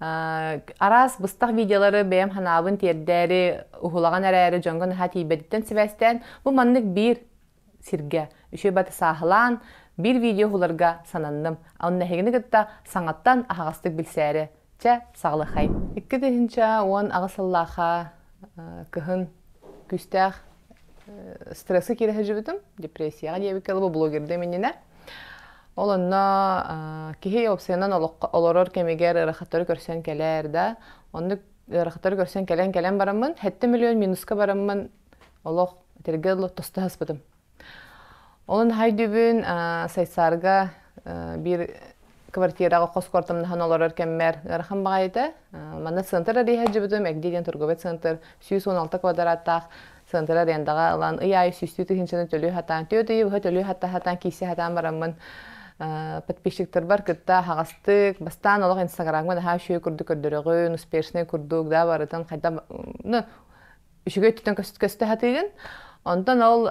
араас быстах видеолары бэйэм ханаабын тиэрдээри уһулаҕан эрээри дьоҥго наһаа тиийбэтиттэн сибээстээн бу маннык биир сиргэ үчүгэй баты сааһылаан биир видео уһуларга сананным онно эһигини кытта саҥаттан аһаҕастык билсээри чэ саҕалахай икки тыһынча уон аҕыс сыллаахха кыһын күстээх стрессы киирэ сылдьыбытым депрессияҕа диэбиккэ блогердым иннинэ Ол онно киһи уопсайынан олорор кэмигэр ыарахаттары көрсөн кэлээр да, оннук ыарахаттары көрсөн кэлэн кэлэн бараммын, сэттэ миллион минуска бараммын олох тиргэ тоста саспытым. Ол наһаа өйдүүбүн Сайсарга биир квартираҕа хос куортамнаһан олорор кэммэр ыарахан баҕайыта манна центр арыйа сылдьыбытым эгди диэн торговый центр сүүс уон алта квадраттаах центр арендаҕа ылан ый аайы сүүстүү тыһыынчаны төлүү сатаан түөрт ый быһа төлүү сатаан сатаан киирсэ сатаан бараммын подписчиктарбар кытта хаҕастык бастаан олох инстаграмҥа наһаа үчүгэй курдук көрдөрөҕүн успешнай курдук да барытын хайдах ну үчүгэй өттүтэн көстө сатыыгын. Онтон ол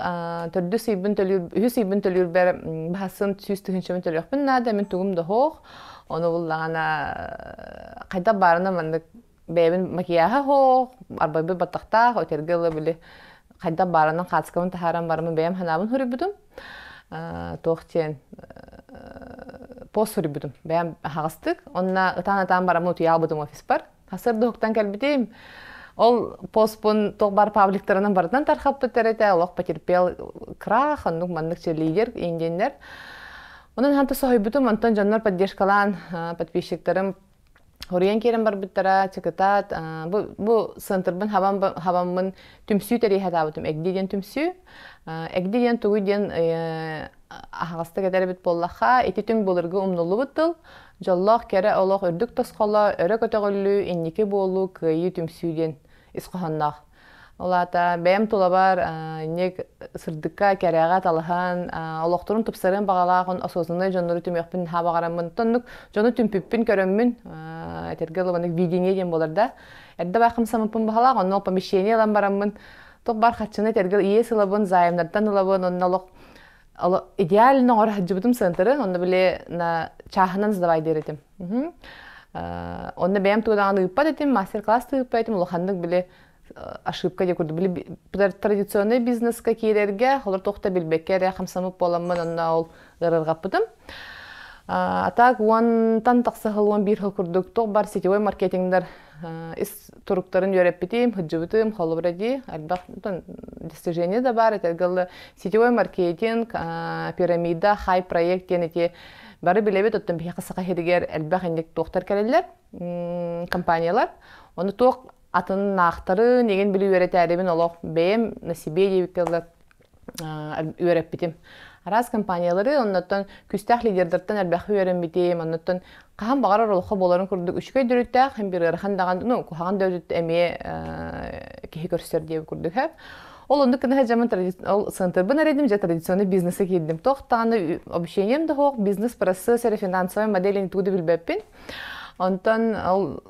төрдүс ыйбын төлүүр, үһүс ыйбын төлүүрбэр баһасын сүүс тыһыынчабын төлүөхпүн наада, мин тугум да оһох. Ону буллаҕына хайдах баарына маннык бэйэбин макияһа оһох, арбайбын баттахтаах, өтөргө ыла били хайдах баарынан хаацкабын таһааран барамын бэйэм санаабын суруйбутум. туох диэн пост суруйбутум бэйэм аһаҕастык. Онно ытаан-ытаан бараммын утуйа хаалбытым офиспар. Сыр дуһуктан кэлбитим. Ол поспун туох баар пабликтарынан барытынан тархаппыттар этэ, олох потерпел крах, оннук маннык чилиигер индиэннэр. Онон ханта соһуйбутум, онтон дьоннор поддержкалаан подписчиктарым Хоруйан киирэн барбыттара, чыкытаат, бу, бу центрбын хабан, хабаммын түмсүү тэриэхэтаабытым. Эгди диэн түмсүү, эгди диэн тугуй диэн аһаҕастык этэр эбит буоллахха, ити түҥ былыргы умнуллубут тыл, Дьоллоох кэрэ олох үрдүк тосхоло, өрө көтөҕүллүү, инники буолуу, кыайыы түмсүү диэн ис хоһоонноох. Ол аата бэйэм тулабар инник сырдыкка, кэрэҕэ талаһан, олохторун тупсарыан баҕалаах осознаннай дьоннору түмүөхпүн наһаа баҕараммын, оннук дьону түмпүппүн көрөммүн, этэргэ ылыманнык видение диэн буолар да, эрдэ баар хамсаммыппын баҕалаах, онно ол помещение ылан бараммын, туох баар харчыны этэргэ иэс ылабын, заемнартан ылабын, онно олох идеально оҥоро сыһыантары онно били на чааһынан задавай диэретим онно бэйэм тугадаҕын ыыппат этим мастер-класс ыыппат этим улаханнык били ошибка диye курдук били традиционный бизнеска киирэргэ холор тохта билбекке эрэ хамсамыт буоламмын онно ол ырырҕаппытым А так уонтан тахса хыл уон биир хыл курдук туох бар сетевой маркетингдер ис туруктарын үөрэппитим, хыддьыбытым, холобура дии, ардах достижение да бар, этэргалы сетевой маркетинг, пирамида, хай проект диэн эти бары билэбит, оттон биһиэхэ саха хиригэр элбэх инник туохтар кэлэллэр, компаниялар, ону туох атын наахтарын, егин били үөрэтээрибин олох бэйэм на себе диэбиккэ үөрэппитим. Араас компаниялары, оннуттан күстээх лидердартан элбэхи үөрэммитим, оннуттан хаһан баҕарар олоххо буоларын курдук үчүгэй дөрүттээх, һин бир ыарахан даҕан, ну, куһаҕан да өтүт эмиэ киһи көрсөр диэби курдук хэп. Ол оннук гына сылтырбын сантырбын эредим же традиционный бизнеса киирдим. Туох даҕаны общением да хоох, бизнес процесс эре финансовой модели не тугу да билбэппин. Онтон ол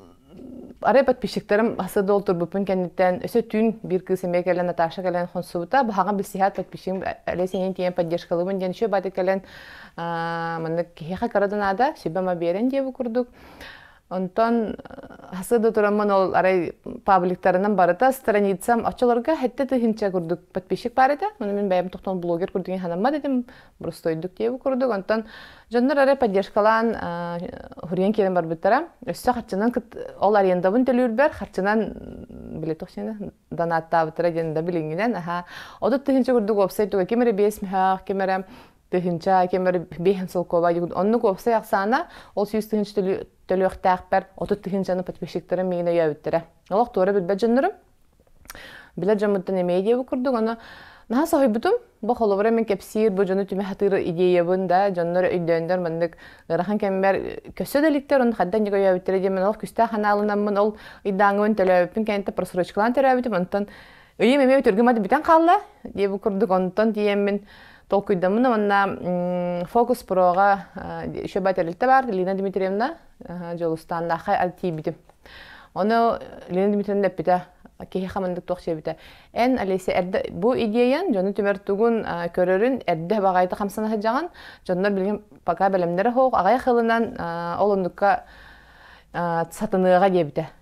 арай подписчиктарым хасыда ол турбуппун кэнниттэн өсө түүн биир кыыс эмиэ кэлэн Наташа кэлэн хонсубута баҕаҕа билсиһээт подписчигим әле сенин тиийэн поддержкалыбын диэн еще баты кэлэн маннык киһиэхэ кыра да наада сүбэм биэрэн диэбу курдук Онтон хасыда тураммын ол арай пабликтарынан барыта страницам оччолорго хэтте тыһынча курдук подписчик бар этэ. Оны мин бэйэм тохтон блогер курдук ханамма дедим. простойдук диэбу курдук онтон дьоннор эрэ поддержкалаан хуриен киирэн барбыттара өссө харчынан ол арендабын төлүүрбэр харчынан били туох донаттаабыттара диэн да билиҥҥинэн аха отут тыһынча курдук уопсай туга ким эрэ биэс мөһөөх ким эрэ тыһынча ким эрэ биэһин солкуоба оннук уопсай ахсаана ол сүүс тыһынча төлүөхтээхпэр отут тыһынчаны подписчиктарым миигин өйөөбүттэрэ олох туора билбэт дьоннорум Билэ дьоммуттан эмиэ диэбит курдук, аны наһаа соһуйбутум. Бу холобура мен кэпсиир бу дьону түмэ сатыыр идеябын да дьоннор өйдөөндөр маннык ыарахан кэммэр көссө да иликтэр оны хаддан дьига өйөөбүттэрэ диэн мен ол күстээх анаалынаммын ол ыйдааҥыбын төлөөбүппүн кэнтэ просрочкалаан төрөөбүтүм онтон өйүм эмиэ өтөргүмат бүтэн хаалла диэбит курдук онтон тиийэммин толкуйдаммын манна фокус проға еще батя бар Лина Дмитриевна Дьулустааннаахай ат тиийбитим. Ону Лена Дмитриевна эппитэ, киһи хамандык туох сиэбитэ. Эн, Олеся, эрдэ бу идиэйэн дьону түмэр тугун көрөрүн эрдэ баҕайыта хамсана сылдьаҕын. Дьоннор билигин пока бэлэмнэрэ суох, аҕай хылынан ол оннукка сатыныаҕа диэбитэ.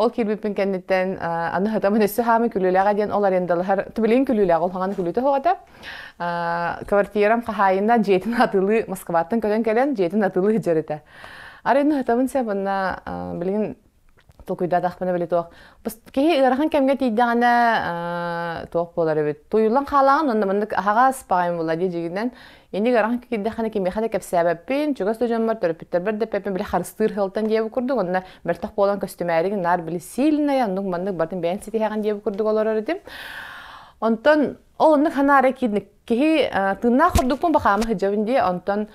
Ол киирбиппин кэнниттэн аны хатамын өссө хаамы күлүүлэҕэ диэн ол арендалаһар тубилин күлүүлэҕэ улхаҕана күлүүтэ хоҕото квартирам хаһаайына дьиэтин атылыы Москваттан көрөн кэлэн дьиэтин атылыы сыдьарыта арыйны хатабын сабынна билигин толкуйдаатахпына били туох киһи ыарахан кэмгэ тиийдэҕинэ туох буолар эбит туйулан хаалаҕын онно маннык аһаҕас баҕайым була дии дьигинэн Инник арахан киирдэххинэ кимиэхэ да кэпсээбэппин, чугас да дьоммор, төрөппүттэрбэр да эппиппин били харыстыыр сыалтан диэбит курдук, уонна мөлтөх буолан көстүмээригин наар били сильнай, оннук маннык бартын бэйэн ситиһэҕин диэбит курдук олорор этим. Онтон ол оннук ханаара киирник киһи тыыннаах ордукпун бахаама сыдьабын дии, онтон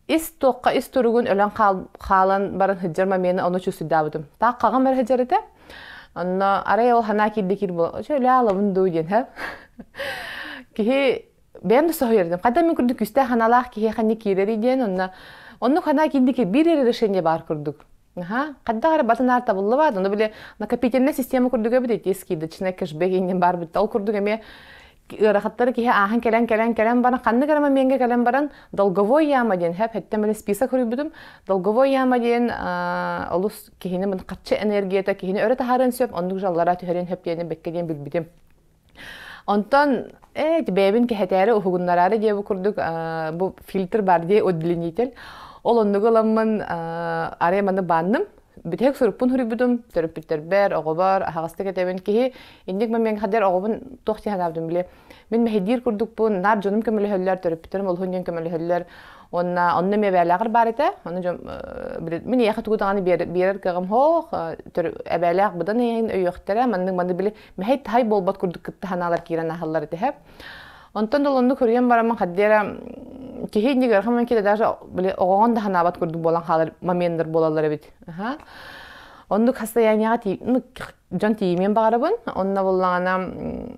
ис туохха ис туругун өлөн хаалан баран сыдьар момена ону чувствуйдаабытым. Так қағым әрі сыдьар этэ. Онно арай ол ханаа киирде киир боло, өчө өле алабын дуу диэн хэ. Киһи бэйэм да соһуйардым хата мин курдук күүстээх аналаах киһи ханна киирэрий диэн онно оннук хана киндики биир решение бар курдук Аха, хаддах эрэ батын аар табыллыбаат, ону биле накопительная система курдук эбит эти скидочная кэшбек иннин бар битте. Ол курдук эме ырахаттары киһи ааһан кэлэн кэлэн кэлэн баран ханны гырама менге кэлэн баран долговой яма диэн хэп хеттем эле список хуруйбутум долговой яма диэн олус киһини мын катчы энергията киһини өрө таһарын сөп оннук жаллара түһэрин хэп диэн бекке диэн билбитим Онтон э бэйэбин кэхэтээри уһугуннараары дии бу курдук бу фильтр бар дии удлинитель ол оннугу ыламмын арай маны баанным бүтэһик сурукпун хуруйбутум төрөппүттэрбэр оҕобор аһаҕастык этэбин киһи инник момиҥ хадэр оҕобун туох диэн анаабытын биле мин мэһэйдиир курдукпун наар дьонум көмөлөһөллөр төрөппүттэрим олуһун диэн көмөлөһөллөр уонна онно эмиэ бэбээлээҕэр баар этэ оны дьон мин эйэхэ тугу даҕаны биэрэр кыаҕым хоох эбээлээх быдан эйэҥин өйүөхтэрэ маннык маны били мэһэй-таһай буолбат курдук кытта санаалар киирэн аһаллар этэ Онтон да онну көрүйэн барамын хаддера киһи инник архаман кита даже оҕоҕон да ханаабат курдук буолан хаалар момендер буолаллар эбит оннук состоянияға дьон тиийимиэн баҕарабын онно буллаҕана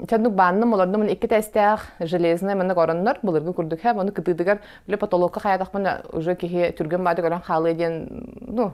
чаннук баанным олордумун икки тестээх железный маннык ороннор былыргы курдук һэ ону кытыытыгар биле потолокка хаятахпын уже киһи түргэн бааты көрөн хаалыа диэн ну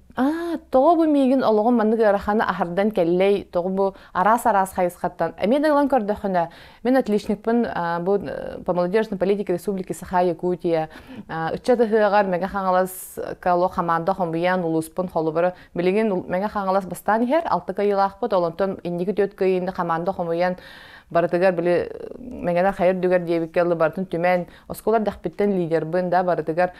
Аа, тоҕо бу миигин олоҕум маннык ыараханы аһардан кэллэй, тоҕо бу араас-араас хайысхаттан. Эмиэ да ылан көрдөххүнэ, мен отличникпын а, бу э, по молодежной политике Республики Саха Якутия а, ыччат ыһыаҕар Мэҥэ Хаҥалас кало хамаанда хомуйан улууспун холобура билигин Мэҥэ Хаҥалас бастаан иһэр алты кыйылаахпыт олонтон инники түөрт кыйыында хамаанда хомуйан барытыгар били Мэҥэнэр хайыр дүгэр диэбиккэ ылы барытын түмэн оскуолар дьахпиттэн лидербын да барытыгар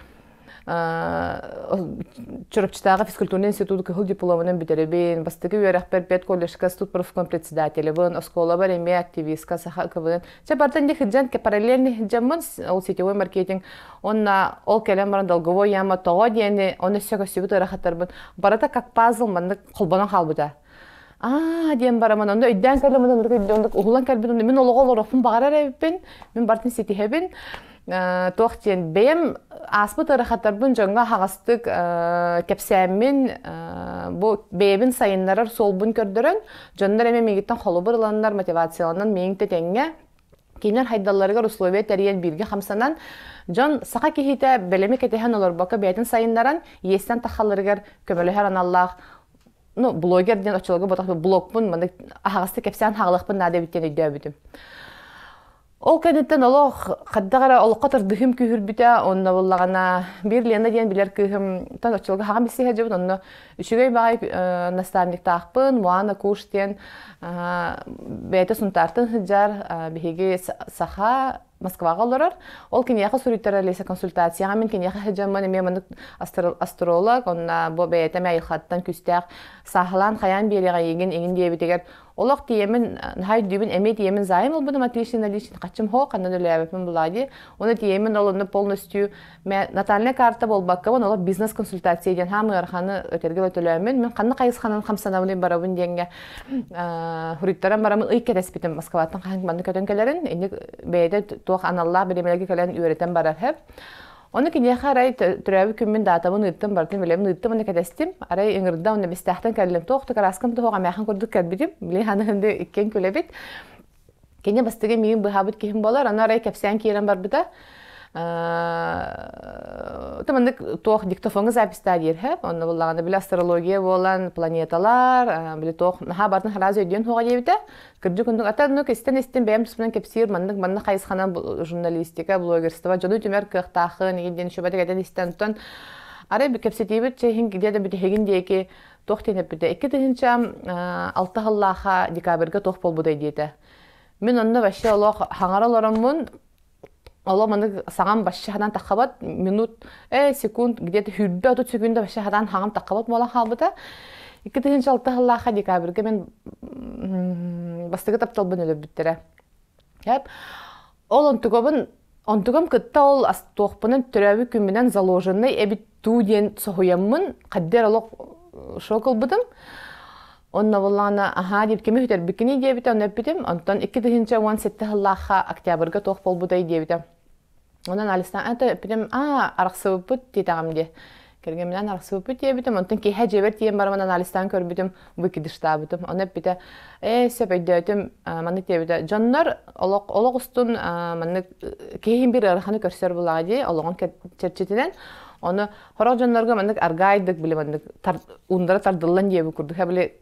Чурапчытааҕы физкультурный институт кыһыл дипломунан бүтэрэбин, бастакы үөрэхпэр пет коллежка студ профком председателебын, оскуолабар эмиэ активистка, саха ыкыбын. Чэ, бартан дихиджан, параллельный хиджаммын, ол сетевой маркетинг. Онна ол кэлэн баран долговой яма тоҕо диэни, оны сөкөстүбүт ырахаттарбын. Барыта как пазл маннык холбонон хаалбыта. аа диэн бараман онно өйдөөн кэллим онно өйдөөн уһулан кэлбит онно мин олоҕо олоруохпун баҕарар эбиппин мин бартын ситиһэбин туох диэн бэйэм ааспыт ыарахаттарбын дьоҥҥо аһаҕастык кэпсээммин бу бэйэбин сайыннарар суолбун көрдөрөн дьоннор эмэ миигиттэн холобур ыланнар мотивацияланан миигин тэтэҥҥэ кинилэр хайдалларыгар условия тэрийэн бииргэ хамсанан дьон саха киһитэ бэлэми кэтэһэн олорбокко бэйэтин сайыннаран иэстэн тахаларыгар көмөлөһөр аналлаах ну блогер диэн оччолорго ботох блогпун маны аһаҕастык кэпсээн хаалыахпын наада эбиттэн өйдөөбүтүм ол кэнниттэн олох хаддах эрэ олоххо тардыһым күүһүрбүтэ онно буллаҕына биир Лена диэн билэр кыыһымтан оччолорго хаҕан билсии сылдьабын онно үчүгэй баҕай э, наставниктаахпын Муана Куш диэн э, бэйэтэ Сунтаартан сылдьар э, биһиги саха Москваҕа олорор. Ол киниэхэ суруйтарар Олеся консультацияҕа мин киниэхэ сылдьаммын эмиэ маннык астролог, онно бу бэйэтэ эмэ айылхаттан күүстээх сааһылаан хайаан биэриэҕэ ийигин иҥин диэбитигэр олох тиийэмин наһаа өйдүүбүн эмиэ тиийэмин заайын ылбытым отличный наличный хаччым хоо ханна да өлөөбөппүн булаа дии. Уонна тиийэмин ол онно полностью Мен натальная карта буолбаккабын олох бизнес-консультация диэн хаам ыараханы өтөргө өтөлөөмүн мен ханна хайысханан хамсанабын барабын диэнге хуриттаран барамын ый кэтэспитим Москваттан хаһан манны көтөн кэлерин инник бэйде туох аналлаах бириэмэлерге кэлэн үөрэтэн барар хэп Оны киниэхэ арай түрөөбү күммүн даатабын ыыттым бартын билемин ыыттым оны кэтэстим арай ыҥырда оны бистээхтен кэллим туох да караскам тоһоҕа мәхин курдук кэлбитим билин ханы хынды иккен күлэбит Кини бастыгы миин быһаабыт киһим болар, аны арай кэпсээн киирэн барбыта. Ты маннык туох диктофоҥҥа запистаа диэрһэ, онно буллаҕына били астрология буолан, планеталар, били туох наһаа бартын раз өйдүөн хуоҕа диэбитэ. Кырдьык курдук атын ну кистен истин бэйэм туспунан кэпсиир маннык маннык хайысханан журналистика, блогерство дьону түмэр кыахтаахын, игин шөбөтө кэтэн истэн тон арай кэпсэтиибит чэһин где да бүтehигин диэки туох диэн эппитэ икки тыһыынча алта сыллаахха декабрьга туох буолбутай диэтэ мин онно вообще олох хаҥара олороммун олох маны саҥам башча хатан таххабат минут э секунд где-то хүрбэ отут секунда башча хатан хаҥам таххабат буолан хаалбыта икки тыһыынча алта сыллаахха декабрьга мен бастакы тапталбын өлөрбүттэрэ Ол онтугабын онтугам кытта ол туохпунан төрөөбүт күммүнэн заложенный эбит дуу диэн соһуйаммын хаддер олох шок ылбытым онно буллаана аһаа диэбит кими үтэрбиккиний диэбитэ ону эппитим онтон икки тыһыынча уон сэттэ сыллаахха октябрьга туох буолбутай диэбитэ онон алиса это эппитим аа арахсыбыппыт диэтэҕим дии Кэргэминэн арахсыппыт диэбитим, онтон киэһэ дьиэбэр тиийэн барамын анализтаан көрбүтүм, выкидыштаабытым. Оны эппитэ, ээ, сөпөйдөөтүм, маннык диэбитэ, дьоннор олох олох устун маннык киһиин бир ыараханы көрсөр булаҕа дии, олоҕун чэрчитинэн Оны хорох дьоннорго маннык аргаайдык били маннык уундара тардыллан диэбит курдук, били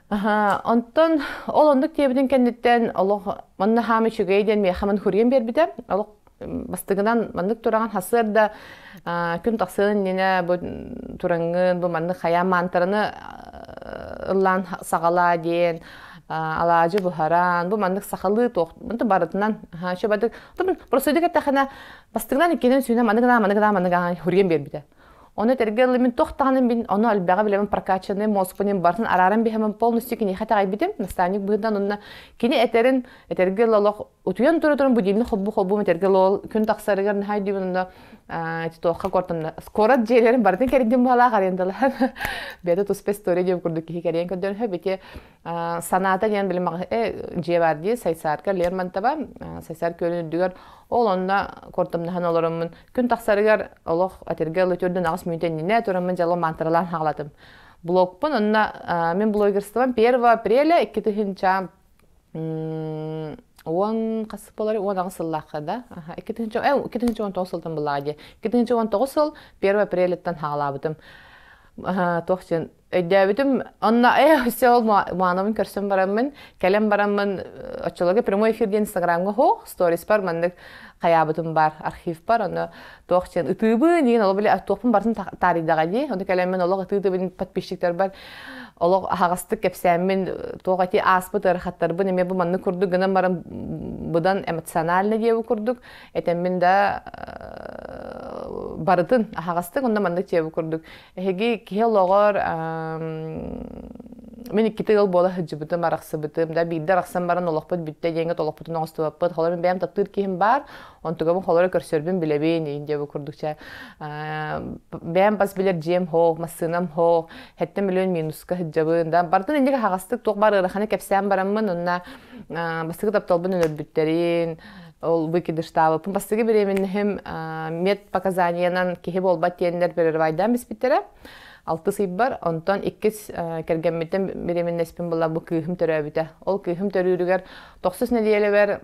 Аһаа, онтон ол оннук диэбитин кэнниттэн олох манна хаам үчүгэй диэн миэхэмэн хурием биэрбитэ. Олох м, бастыгынан маннык тураҕын хасыарда а, күн тахсыан иннинэ бу тураҥҥын бу маннык хайаан маантараны а, ыллаан саҕалаа диэн а, алаадьы буһаран бу маннык сахалыы туох мантан барытынан аха, чөбөтүк просто дик эттэхинэ бастыгынан иккинэн сүүнэн маннык гына маннык гына маннык гына хурием биэрбитэ. Ону этэргэ ыллым мин туох даҕаны мин ону альбаҕа билэбин прокачанный мозгунан бартын арааран биһэмэн полностью киниэхэ таҕайбитим наставник быһыдан онно кини этэрин этэргэ ыл олох утуйан турутурун будильник холбу холбум этэргэ ыл күн тахсарыгар наһай диибин онно туохха кортонно скорот дьиэлэрин барытын кэрдим баалаах арендалар бэйэтэ туспа история диэн курдук киһи кэрийэн көрдөрөһө бити санаата диэн билим дьиэ баар дии сайсарка лермонтова сайсар көлүн үрдүгэр ол онно кортомнаһан олороммун Күн тахсарыгар олох атырга ылы төрдүн аҕыс мүнөтө иннинэ тураммын дьалым мантаралаан хаалатым. Блогпун онно мен блогерствам первого апреля иккитыһынча уон хас болар уон аҕыс сыллаахха да икки тыһынча э икки тыһынча он тоҕус сылтан былаҕа дии икки тыһынча он тоҕус сыл первый апреляттан хаалаабытым туох син өйдөөбүтүм онно э все маанабын көрсөн бараммын кэлэн бараммын оччолорго прямой эфир диэн инстаграмҥа оһох сториспар маннык хаyaабытым бар архивпар ону туох диэн ытыыбын диэн олох биле туохпун барытын таарыйдаҕа дии ону кэлэммин олох ытыытыбын подписчиктарбар олох аһаҕастык кэпсээммин туох эти ааспыт ыарахаттарбын эмиэ бу маннык курдук гынан баран быдан эмоциональный диэбит курдук этэммин да барытын аһаҕастык онно маннык диэбит курдук Эһиги киһи олоҕор мин иккитэ ыал буола сылдьыбытым, арахсыбытым. Да биирдэ арахсан баран олохпут бүттэ диэҥҥэ олохпутун оҥостубаппыт. Холобур, мин бэйэм таптыыр киһим баар, онтугабын холоро көрсөрбүн билэбин иин диэбит курдук чэ бэйэм бас билэр дьиэм хоох, массыынам хоох, хэттэн миллион минуска сылдьабын. Да бартын инник аһаҕастык туох баар ыараханы кэпсээн бараммын, онно бастакы тапталбын өлөрбүттэрин, ол выкидыштаабыппын бастыгы беременныхым медпоказаниянан киһи буолбат тиэннэр перерывайдаан биспиттэрэ алтыс ыйбар онтон иккис кэргэммиттэн беременнэспин була бу кыыһым төрөөбүтэ ол кыыһым төрүүрүгэр тохсус нелиэлэбэр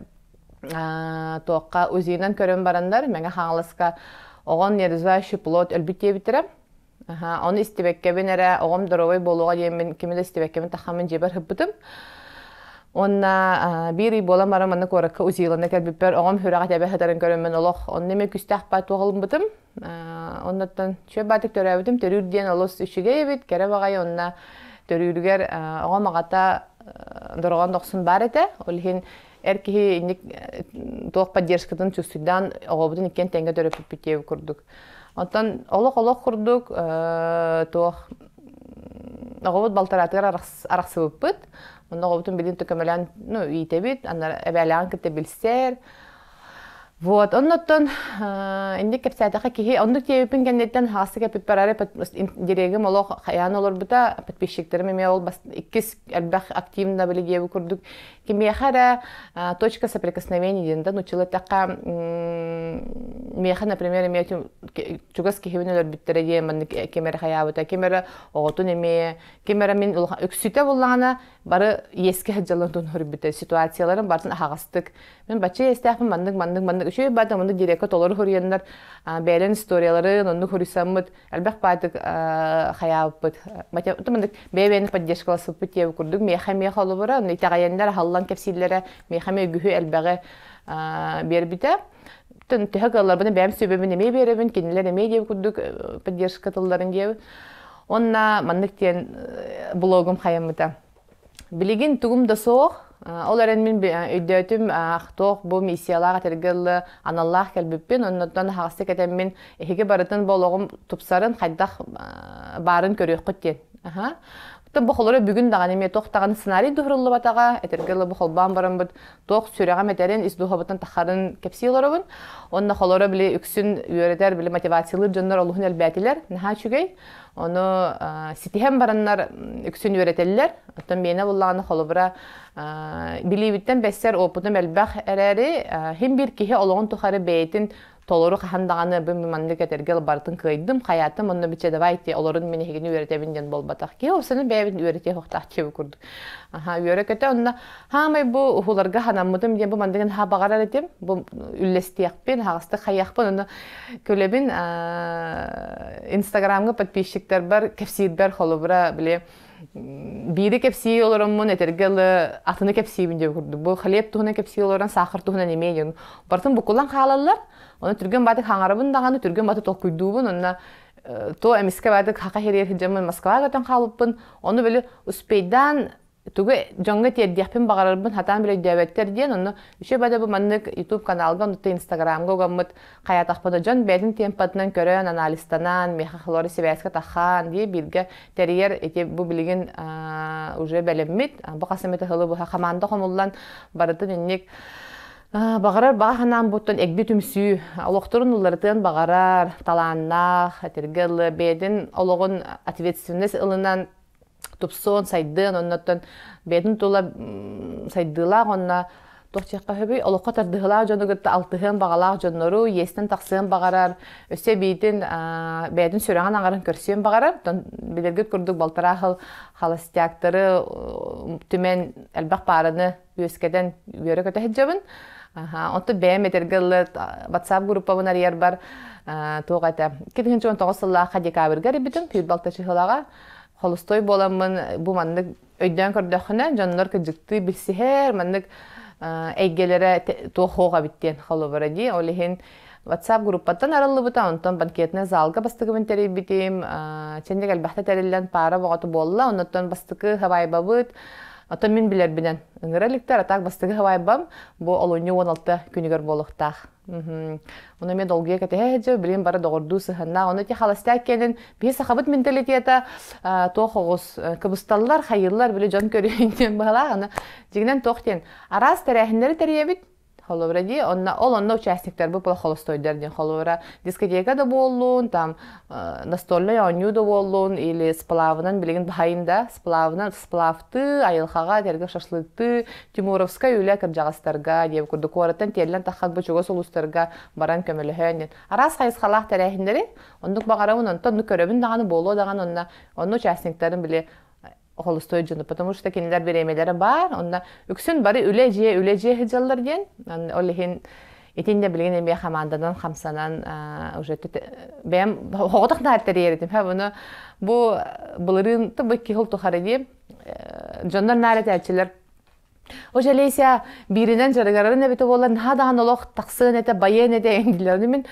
туохха узинан көрөн бараннар мэҥэ хаҥаласка оҕон неразвающий плод өлбүт диэбиттэрэ Аһа, ону истибэккэбин эрэ оҕом доруобай буолуоҕа диэммин кими да истибэккэбин тахаммын дьиэбэр ыппытым. Уонна а, биир ый буолан баран манна куоракка узиланна кэлбиппэр оҕом үрэҕи тэбэ сытарын көрөммүн олох онно эмэ күстээх баай туоҕалыммытым. А, оннуттан чүө баатык төрөөбүтүм төрүүр диэн олус үчүгэй эбит кэрэ баҕайы онно төрүүрүгэр а, оҕом аҕата а, дорҕоон дохсун баар этэ ол иһин эр киһи инник э, туох поддержкатын чувствуйдаан оҕобутун иккиэн тэҥҥэ төрөппүппүт диэбит курдук Оттон олох-олох курдук туох оҕобут балтараатыгар арахсыбыппыт. Онно оҕобутун билин төкөмөлөөн ну иитэбит, анна эбээлээҕин кытта билсэр. Вот, оннуттан инник кэпсээтэхэ киһи оннук тиэбиппин кэнниттэн хаастык эппиппэр ары дирегим олох хайаан олорбута подписчиктерим эмиэ ол иккис элбэх активно билигиэбу курдук Кимиэхэ эрэ точка соприкосновения диэн да нуччал эттэххэ миэхэ, например, эмиэ чугас киһибин өлөрбүттэрэ диэн маннык ким эрэ хайаабыта, ким эрэ оҕотун эмиэ, ким эрэ мин үксүтэ буллаҕына бары иэскэ сылдьалларын турнуһурбүтэ ситуацияларын барытын аһаҕастык мин бачча иэстээхпин маннык маннык маннык үчүгэй баата маннык дирекка толору хоруйаннар бэйэлэрин историяларын оннук хоруйсаммыт Элбэх баатык хаyaаппыт. Бэйэ-бэйэни поддержкала сыппыт тиэб курдук миэхэ-миэхэ олобура, но итэҕэйэннэр аһаллан кэпсииллэрэ миэхэ-миэ үгүһү элбэҕи биэрбитэ. Тын төһө кыалларбын бэйэм сүбэбин эмиэ биэрэбин, кинилэр эмиэ диэб курдук поддержка тылларын диэб. Онна маннык диэн блогум хайаммыта. Билигин тугум да суох, ол эрэн мин өйдөөтүм туох бу миссиялаах этэргэ дылы аналлаах кэлбиппин, оннуттан аһаҕастык этэммин эһиги барытын бу олоҕум тупсарын хайдах баарын көрүөххүт диэн. Аха. бу холоро бүгүн даҕаны эмиэ туох даҕаны сценарий дуһуруллубатаҕа, этэргэ дылы бу холбоон бараммыт туох сүрэҕим этэрин ис духуобуттан тахарын кэпсии олоробун. Онно холоро били үксүн үөрэтэр, били мотивациялыыр дьоннор олуһун элбээтилэр. Наһаа үчүгэй. Ону ситиһэн бараннар үксүн үөрэтэллэр. Оттон миэнэ буллаҕына холобура билиибиттэн бэссэр опытым элбэх эрээри, хим биир киһи олоҕун тухары бэйэтин толору хаһан даҕаны бу маннык этэргэл барытын кыайдым, хаятым онно бичэ давай те олорун мин эһигини үөрэтэбин диэн буолбатах. Киһи ол саны бэйэбин үөрэтиэ охтаах диэбит курдук. Аха, үөрэ-көтө онно Хаамай бу уһуларга ханаммытым диэн бу мандыгын ха баҕарар этим. Бу үллэстиэхпин, хаҕыстык хайыахпын, ону көлөбүн Инстаграмга подписчиктарбар кэпсиирбэр холобура били биири кэпсии олороммун этэргэ ылы атыны кэпсиибин диye курдук. Бу хлеб туһунан кэпсии олорон сахар туһунан эмиэ дион. Бартын букулан хаалаллар. Оны түргөн баты хаңарабын даганы түргөн баты токкуйдуубун, онна то эмискэ баты хака херер хыджамын Москваға өтөн хаалыппын, оны бөлі успейдан тугу дьоҥҥо тиэрдиэхпин баҕарарбын хатаан билөйдөөбөттөр диэн онно үчү бада бу маннык YouTube каналга оннуктан Инстаграмга угаммыт хайаатахпыт да дьон бэйэтин темпатынан көрөн анализтанан миэхэ халori сибээскэ тахаан дии бииргэ тэрийэр ити бу билигин уже бэлэммит бу хасымыты хылы быһа хамаанда хомуллан барытын инник баҕарар бааһанаан буттан эгди түмсүү олохторун уларытыан баҕарар талааннаах этиргэ ылы бэйэтин олоҕун ответственность ылынан тупсуон, сайдыан, оннуттан бэйэтин тула сайдыылаах онно туох диэххэ сөбүй олоххо тардыһылаах дьону кытта алтыһыан баҕалаах дьоннору иэстэн тахсыан баҕарар өссө эбиитин бэйэтин сүрэҕин аҥарын көрсүөн баҕарар оттон билэргит курдук балтараа хыл халастяктары түмэн элбэх паараны үөскэтэн үөрэ-көтө сылдьабын. Онту бэйэм этэргэ ылла WhatsApp группабын арыйарбар туох этэ 2019 сыллаахха декабрьга арыйбытым күүл балта чыһылаҕа холустой буоламмын бу маннык өйдөөн көрдөххүнэ дьоннор кыдьыктыы билсиһэр маннык эйгэлэрэ туох хоох эбит диэн холобура дии ол иһин WhatsApp группаттан арыллыбыта, онтон банкетнай заалга бастыгыбын тэрийбитим. Чэндик элбэхтэ тэриллэн паара боҕото буолла, оннуттан бастыкы хабайбабыт. Оттон мин билэрбинэн ыҥыра иликтэр, а так бастыгы хабайбам, бу олунньу уон алта күнүгэр буолуохтаах. Ону эмиэ долгуйа кэтэһэ сылдьа, билим бары доҕордуу сыһыннаах. Ону ити халастаак киэнин биһи сахабыт менталитета туох оҕус кыбысталлар, хайыыллар, били дьон көрүөн диэн быһалаах. Аны дьигинэн туох диэн араас тэрээһиннэри тэрийэбит, Холобура дии, онно ол онно участниктарбыт плохолостойдар диэн холобура дискотека да буоллун, там э, настольнай оонньуу да буоллун или сплавынан билигин баһайын да сплавынан сплавтыы, айылхаҕа тергев шашлыктыы Тимуровскай үлэ кырдьаҕастарга диэн курдук куораттан тиэллэн таххатбы чугас улуустарга баран көмөлөһөөн диэн араас хайысхалаах тэрээһиннэри оннук баҕарабын онтон ну көрөбүн даҕаны буолуо даҕаны онно онно участниктарын били холустуой дьону, потому что кинилэр бириэмэлэрэ баар, онно үксүн бары үлэ-дьиэ, үлэ-дьиэ сыдьаллар диэн, ол иһин итиннэ билигин эмиэ хамаанданан хамсанан уже бэйэм хоҕотох дааритэрийэритим ха буну бу былырыын тып икки хыл тухары дии дьоннор наар этээччилэр О Олеся бииринэн дьарыгырарын эбитэ буолан наһаа даҕаны олох тахсыан этэ, байыан этэ эндилэрин мин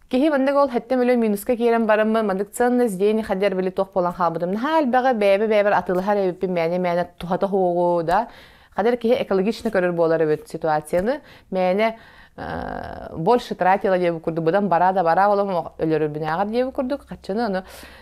киһи маннык ол хэттем өлө минуска киирэн бараммын маннык ценный здесь хадер били туох буолан хаалбытым наһаа элбэҕи бэйэбэ бэйэбэр атылыһар эбиппин мээнэ мээнэ туһата хоҕу да хадер киһи экологично көрөр буолар эбит ситуацияны мээнэ э, больше тратила диэбит курдук быдан бараа да бараа олом өлөрүбүнээҕэр диэбит курдук хаччыны ону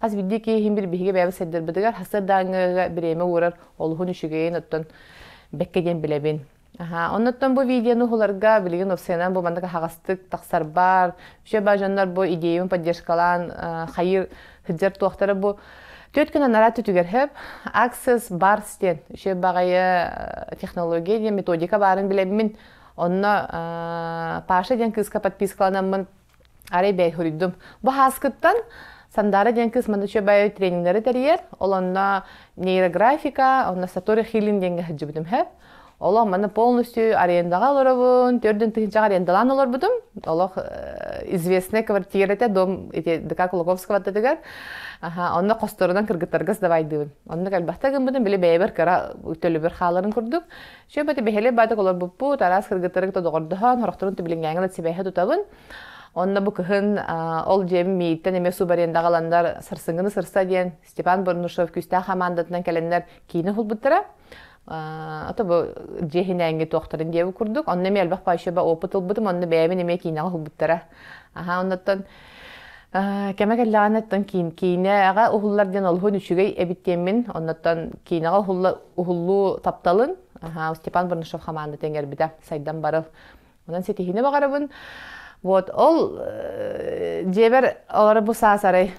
Хас биирдии киһи бир биһиги бэйэбит сырдырбытыгар хасыр дааҥҥыга бириэмэ уурар олуһун үчүгэйин оттон бэкке диэн билэбин. Аха, оннуттан бу видеоны ухуларга билигин опсайынан бу маннык аһаҕастык тахсарбар, вообще бажаннар бу идеябын поддержкалаан хайыр хыджар туохтара бу Төрт күн анараа түтүгэрһеп Access бар стен үше бағайы технология диэн методика барын билеммин онно Паша диэн кыыска подпискаланаммын Арай бэйи суруйдум. Бу хааскыттан Сандаара диэн кыыс манна үчүгэйи трениннэри тэрийэр, ол онно нейрографика, онно сатори хилин диэҥҥэ сылдьыбытым сөп. Олох манна полностью арендаҕа олоробун, төрдүн тыһыынчаҕа арендалаан олорбутум. Олох известная квартира этэ, дом ити ДК Кулаковского аттытыгар. Аха, онно хосторунан кыргыттарга сдавайдыыбын. Оннук элбэхтэ гыммытым, били бэйэбэр кыра төлөбүр хааларын курдук. Сөп это бэһэлэ баатык олорбуппут, араас кыргыттары кытта доҕордоһон, хорохторун түбилиҥҥээҥҥэ да сибээһэ тутабын. Онно бу кыһын ол дьиэм мииттэн эмиэ субарендаҕа ыланнар сарсыҥҥыны сырса диэн Степан Борнушев күүстээх хамаандатынан кэлэннэр киинэ уһулбуттара. А бу дьиэһинээҥҥи туохтарын диэбит курдук. Онно эмиэ элбэх пающеба опыт ылбытым, онно бэйэбин эмиэ киинэҕэ уһулбуттара. Аһаа, оннуттан кэмэ кэллэҕинэттэн киин киинэҕэ уһуллар диэн олуһун үчүгэй эбит диэммин оннуттан киинэҕэ уһулла уһуллуу тапталын Степан Барнашов хамаанда тэҥэрбитэ сайдан барар онон ситиһиини баҕарабын вот ол дьиэбэр олоро бу саас арай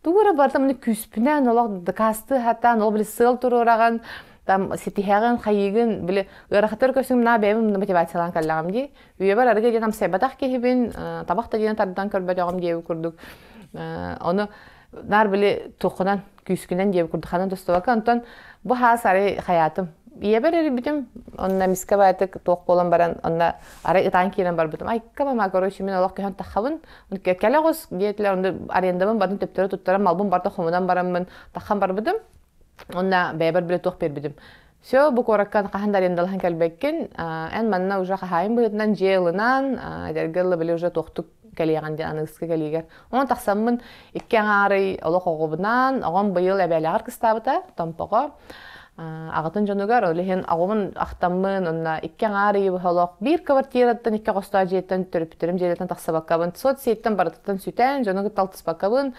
туора барытын міне күүспүнэн олох дакаастыы хатаан ол били сыал туруораҕын там ситиһэҕин хайыгын били ыарахаттар көсүҥ мына бэйэм мотивациялаан кэллэҕим дии Үйэбэр арыгы диэн амсайбатах киһибин, табах да диэн тардан көрбөтөҕүм диэбит курдук. Ону наар били туххунан, күүскүнэн диэбит курдук ханан тустубакка, онтон бу хаас арай хайаатым. Ийэбэр эрбитим, онно эмискэ баатык туох буолан баран, онно арай ытаан киирэн барбытым. Айка мама, короче, мин олох көһөн таххабын, кэлэ оҕус, диэтилэр, онно арендабын барын төптөрө туттаран малбын барда хомунан бараммын таххан барбытым. Онно бэйэбэр билэ туох биэрбитим. Все, бу куоракка хаһан да арендалаһан кэлбеккин. Эн манна уже хаһаайын быһыытынан дьиэ эдэргэ ылла били уже туохтук кэлиэҕин диэн аны ыскы кэлиигэр. Онон тахсаммын икки аҥаарый олох оҕобунан, оҕом быйыл эбээлээҕэр кыстаабыта, Томпоҕо. Аҕатын дьонугар, ол иһин аҕабын ахтаммын, онно икки аҥаар ыйы быһа олох биир квартираттан, икки хостоо дьиэттэн, төрөппүттэрим дьиэлэртэн тахсыбаккабын, соцсеттен барытыттан сүтэн, дьону кытта алтыспаккабын,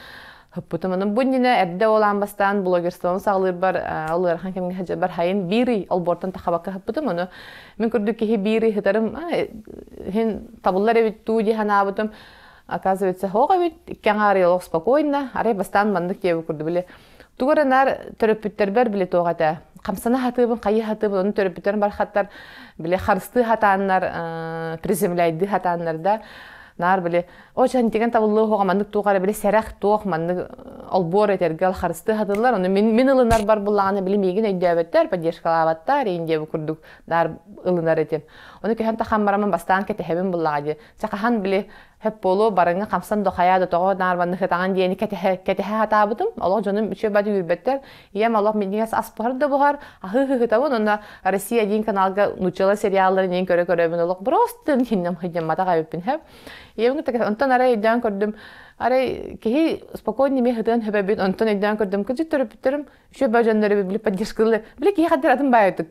Хаппытым аны бу иннинэ эрдэ олаан бастаан блогерствону саҕалыырбар ол ыарахан кэмҥэ сылдьарбар хайын биир ый олбуортан тахабакка хаппытым ону мин курдук киһи биир ый сытарым иһин табыллар эбит дуу дии санаабытым оказывается оһох эбит икки аҥаарыйа олох спокойно арай бастаан маннык диэбит курдук били тугу эрэ наар төрөппүттэрбэр били туох этэ хамсана сатыыбын хайыы сатыыбын ону төрөппүттэрим бархаттар били харыстыы сатааннар приземляйдыы сатааннар да наар били Ол чан тигэн табыллы хоҕа маннык туох ара били сэрэх туох маннык олбуор этэргэ харысты хатылар, ону мин мин ылынар бар буллаҕына били миигин өйдөөбөттөр, поддержкалаабаттар, иин диэби курдук дар ылынар этим. Оны көһөн тахан барамын бастаан кэтэһэбин буллаҕа дии. Чахахан били хэп болу барыңа хамсан дохая да тоҕо нарбанны хытаҕан диэни кэтэһэ кэтэһэ хатаабытым. Олох дьонум үчү бады үрбөттөр. Ийэм олох миннигес аспыһар да буһар, аһы хытабын, онна Россия диин каналга нучала сериалларын иин көрө көрөбүн олох бростын хиннем хыйдем матаҕа эппин хэп. Егну так онтон арай өйдөөн көрдүм. Арай киһи спокойно ме хытыан хөбөбүн, онтон өйдөөн көрдүм. Кызыт төрөпүттөрүм үчү ба дьоннору били поддержка ылы. Били киһи хаддыр атын баайытык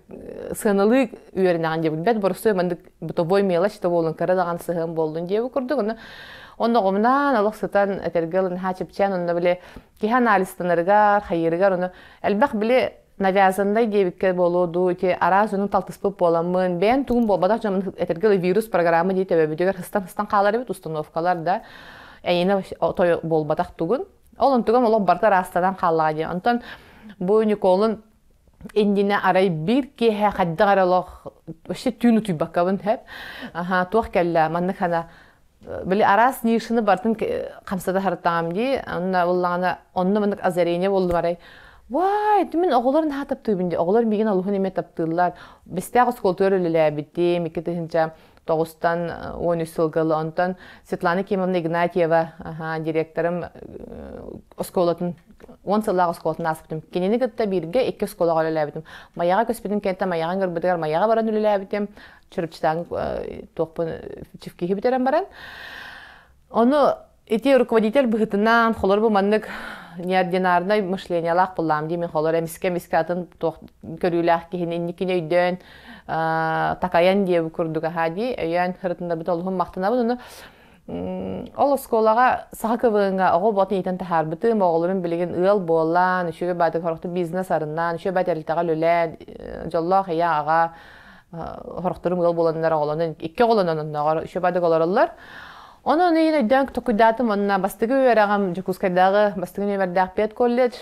сыаналыы үөрэнэҕин диэбит. Бэт борусуй маннык бытовой мелочь то болун кыра даҕан сыһыан болдун диэбу курдук. Онно онно оҕумнаан олох сытан этэргэ ылын ха чипчээн онно били киһи анализтанарыгар, хайырыгар ону элбэх били навязаннай диэбиккэ буолуо дуу ити араас дьону талтыспыт буоламмын бэйэн тугум буолбатах дьоммун этэргэ вирус программа дии төбөбүтүгэр ыстан ыстан хаалар эбит установкалар да эйиэнэ той буолбатах тугун ол онтуган олох барыта ыраастанан хааллаҕа дии онтон бу Николун иннинэ арай биир киэһэ хайдах эрэ олох вообще түүн утуйбаккабын сөп аха туох кэллэ маннык хана били араас ньыыршыны бартын хамсата харытаам дии онна буллаҕына онно мындык озарение боллу барай вай мин оҕолор наһаа таптыыбын дии оҕолор миигин алуһун эмиэ таптыыллар бэстээх оскуолатыгар үлэлээбитим икки тыһыынча тоҕустан уон үс сылга ыла онтон Светлана Кимовна Игнатьева директорым оскуолатын уон сыллаах оскуолатын ааспытым кинини кытта бииргэ икки оскуолаҕа үлэлээбитим майаҕа көспүтүн кэнниттэн майаҕын көрбүтүгэр майаҕа баран үлэлээбитим чарапчытааҥ туохпун киһи бүтэрэн баран ону ити руководитель быһытынан холор бу маннык неординарнай мышлениялаах буллаам дии мин холор эмискэ эмискэ атын туох көрүүлээх киһини инникини өйдөөн такайан диэ курдук аhaa дии өйөөн ырытыннарбыт олуһун махтанабын ону Ол оскуолаҕа саха кывыынга оҕо бот иитэн таһаарбытым, оҕолорум билигин ыал буолан, үчүгэй баатык хорохтук бизнес арыннаан, үчүгэй баай тэрилтэҕэ үлэлээн, дьоллоох ийэ аҕа хорохторум ыал буоланнар оҕолонон икки оҕолонон оннооҕор үчүгэй баатык олороллор. Онон өйүн өйдөөн толкуйдаатым уонна бастакы үөрэҕим Дьокуускайдааҕы бастакы нүөмэрдээх педколледж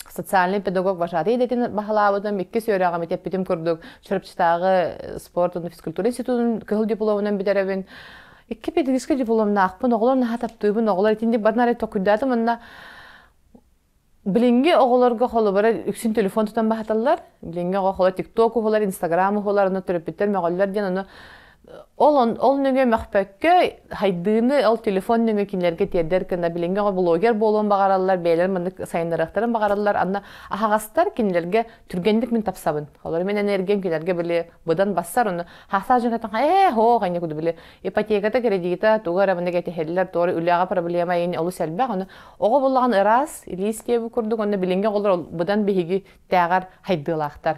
социальный педагог вожатый идэтин баһылаабытым, иккис үөрэҕим эппитим курдук Чурапчытааҕы спорт уонна физкультура институтун кыһыл дипломунан бүтэрэбин. Икки педагогическай дипломнаахпын, оҕолор наһаа таптыыбын, оҕолор итинник барнары токуйдаатым уонна Билинги оҕолорго холобура үксүн телефон тутан баһаталлар. Билинги оҕолор ТикТок уһулар, Инстаграм уһулар, ону төрөппүттэр мөҕөллөр диэн, ону ол ол нөҥүө мөхпөккө хайдыыны ол телефон нөҥүө кинилэргэ тиэрдэр гына билиҥҥи оҕо блогер буолуон баҕараллар бэйэлэр маннык сайыннарыахтарын баҕараллар анна аһаҕастар кинилэргэ түргэнник мин тапсабын олору мин энергиям кинилэргэ били быдан бассар ону хаасаа дьонтон ээ һоо ханьа куду били ипотеката кредита туга эрэ маннык этиһэллэр тоҕо үлэҕэ проблема ини олус элбэх ону оҕо буллаҕын ыраас илиис диэбу курдук онно билиҥҥи оҕолор быдан биһиги тээҕэр хайдыылаахтар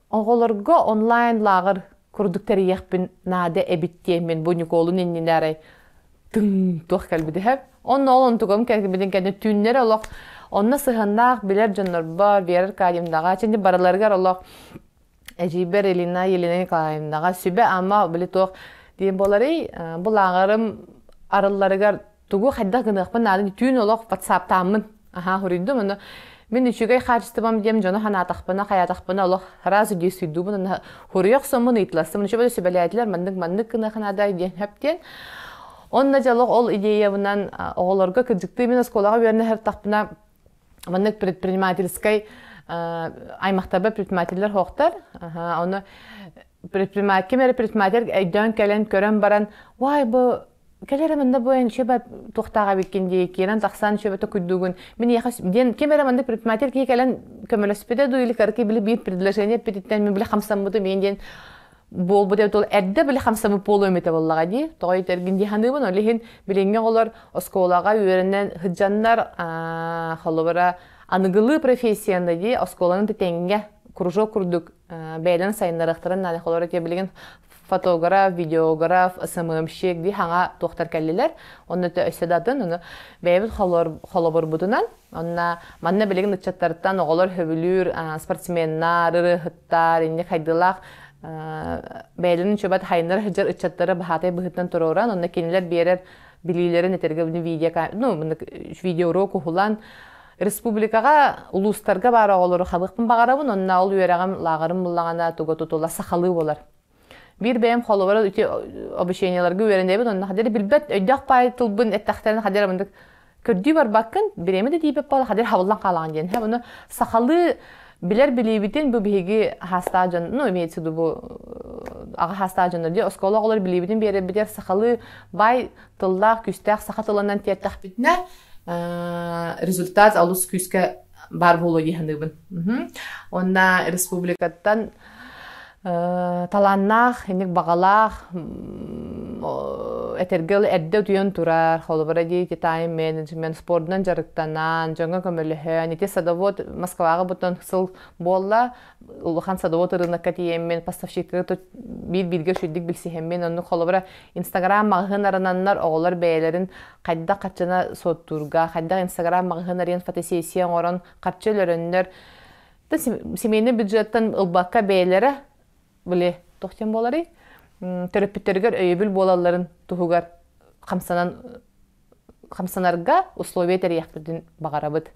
Оҕолорго онлайн-лааҕыр курдук тэрийиэхпин наада эбит диэммин бу Ньукуолун иннинэ арай тыҥ туох кэлбит иһэ. Онно ол онтукам кэлбитин кэннэ түүннэр олох онно сыһыаннаах билэр дьоннорбор Вера Аркадьевнаҕа, чэнди барыларыгар олох эдьиийбэр Елена Елена Николаевнаҕа сүбэ-ама били туох диэн буоларый, бу лааҕырым арылларыгар Тугу хайдах гыныахпын наадын түүн олох ватсаптааммын аһаа хоруйдум аны мин үчүгэй хаачыстыбам диэм дьону санаатахпына хайаатахпына олох раз үдей суйдуубун хоруйах соммун ыйытыластым ничего сүбэлээтилэр маннык маннык гыныаха наадай диэн хэптиэн онно дьолох ол идеябынан оҕолорго кырдьыктыы мин оскуолаҕа үөрэнэ сыртахпына маннык предпринимательскай аймақтарба предпринимателлер хоқтар оны предприниматель кем эрэ предприниматель өйдөөн кэлэн көрөн баран вай бу кэлэр манна бу эн шеба тухтаах эбиккин дии киирэн тахсан шебето күрдүгүн мин яха диэн ким эрэ маннык предприниматель киһи кэлэн көмөлөспүтэ дуу или кырки били биир предложение эппититтэн мен били хамсаммытым мен диэн буолбут эбит ол эрдэ били хамсаммыт буолуом этэ боллаҕа дии тоҕой тергин дии саныыбын ол иһин билиҥҥи оҕолор оскуолаҕа үөрэнэн сыдьаннар холобура аныгылыы профессияны дии оскуоланы тэтэҥҥэ кружок курдук бэйэлэрин сайыннарыахтарын нааны холор этиэ билигин фотограф видеограф сммщик дии хаҥа туохтар кэллилэр онно то өссө да атын ону бэйэбит холобурбутунан онна манна билигин ыччаттартан оҕолор хөбүлүүр спортсменнар ырыаһыттар инни хайдылаах бэйэлэрин чөбөт хайынар хыдьар ыччаттары баһаатай быһыттан туруоран онно кинилэр биэрэр билиилэрин этэргэ видео ну видеорок уһулан Республикаҕа улуустарга баар оҕолору хабыахпын баҕарабын, онно ол үөрэҕим лааҕырым буллаҕына туга тутула сахалыы болар. Биир бэйэм холобура ити обучениеларга үөрэнэбин, онно хадер билбэт өйдөөх паай тылбын эттэхтэрин хадер амындык көрдүү барбаккын, бириэмэ да диипеп болла хадер хабыллан хаалаҕын диэн. Һэ, бұны сахалыы билэр билиибитин бу биһиги хаастаа дьон, ну, имеется в виду бу аҕа хаастаа дьоннор диye оскуола оҕолор билиибитин биэрэрбитигэр сахалыы бай тыллаах-күүстээх саха тылынан тиэртэхпитинэ результат олус күүскэ баар буолуо дии саныыбын уонна республикаттан талааннаах инник баҕалаах этэргэ эрдэ утуйан турар холобура диэки тайм менеджмент спордунан дьарыктанан дьоҥҥо көмөлөһөн ити садовод москваҕа бутан сыл буолла улахан садовод ырынакка тиийэммин поставщикка биир бииргэ үчүйдүк билсиһэммин оннук холобура Инстаграм маҕаһыын арананнар оҕолор бэйэлэрин хайдах хаччына суоттуурга, хайдах Инстаграм маҕаһыын арыйан фотосессия оҥорон харчы өлөрөннөр да семейный бюджеттан ылбакка бэйэлэрэ били туох диэн буоларый төрөппүттэригэр өйөбүл буолалларын туһугар хамсанан хамсанарга условия тэрийэхпитин баҕарабыт.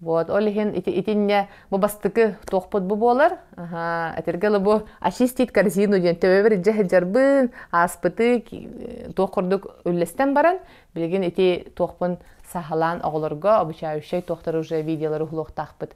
Вот, ол иһин ити итиннэ бу бастыкы туохпут бу буолар. Этирге лабу очистить корзину диэн төбөбөр дьэ сылдьарбын, ааспыты туох курдук үллэстэн баран, билигин ити туохпун саһалаан оҕолорго обучающай туохтар уже видеолары уһулуохтаахпыт.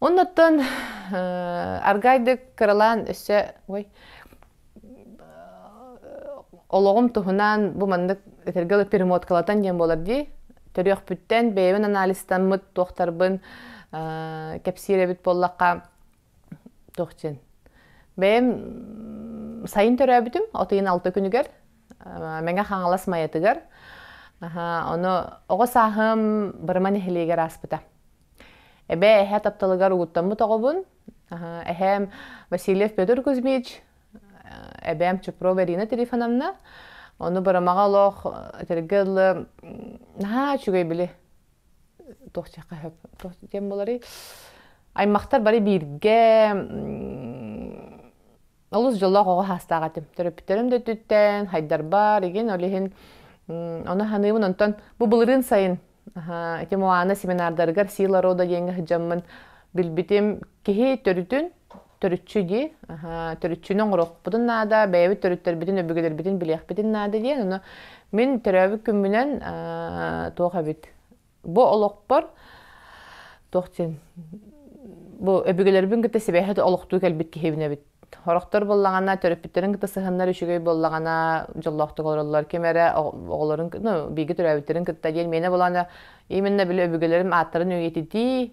Оннуттан аргайдык кыралаан өссө ой олоҕум туһунан бу маннык этэргэ дылы перемоткалатан диэн буолар дии төрүөхпүттэн бэйэбин анализтаммыт туохтарбын кэпсиир эбит буоллахха туох диэн бэйэм сайын төрөөбүтүм от ыйын алта күнүгэр Мэҥэ Хаҥалас Майатыгар. Ону оҕо сааһым Бырыма нэһилиэгэр ааспыта. Эбээ эһээ тапталыгар угуттаммыт оҕобун. Эһээм Васильев Петр Кузьмич, эбээм Чупрова Ирина Трифоновна. Ону Бырымаҕа олох этэргэ дылы наһаа үчүгэй били туох диэххэ сөп туох диэн буоларый аймахтар бары бииргэ Олус дьоллоох оҕо саастаах этим. Төрөппүттэрим да өттүттэн хайдарбар, игин ол иһин ону саныыбын. Онтон бу былырыын сайын эти Моана семинардарыгар Сила рода диэҥҥэ сыдьаммын билбитим. Киһи төрүтүн төрүччү дии, төрүччүнү оҥоруохпутун наада, бэйэбит төрүттэрбитин, өбүгэлэрбитин билиэхпитин наада диэн. Ону мин төрөөбүт күммүнэн туох эбит Бу олохпор туох диэн бу өбүгэлэрбин кытта сибээһи олохтуу кэлбит киһибин эбит. Хорохтор буоллаҕына, төрөппүттэрин кытта сыһыннар үчүгэй буоллаҕына, дьоллоохтук олороллор. Ким эрэ оҕолорун, ну, бииргэ төрөөбүттэрин кытта диэн миэнэ буолаана именно били өбүгэлэрим ааттарын үйэтитии,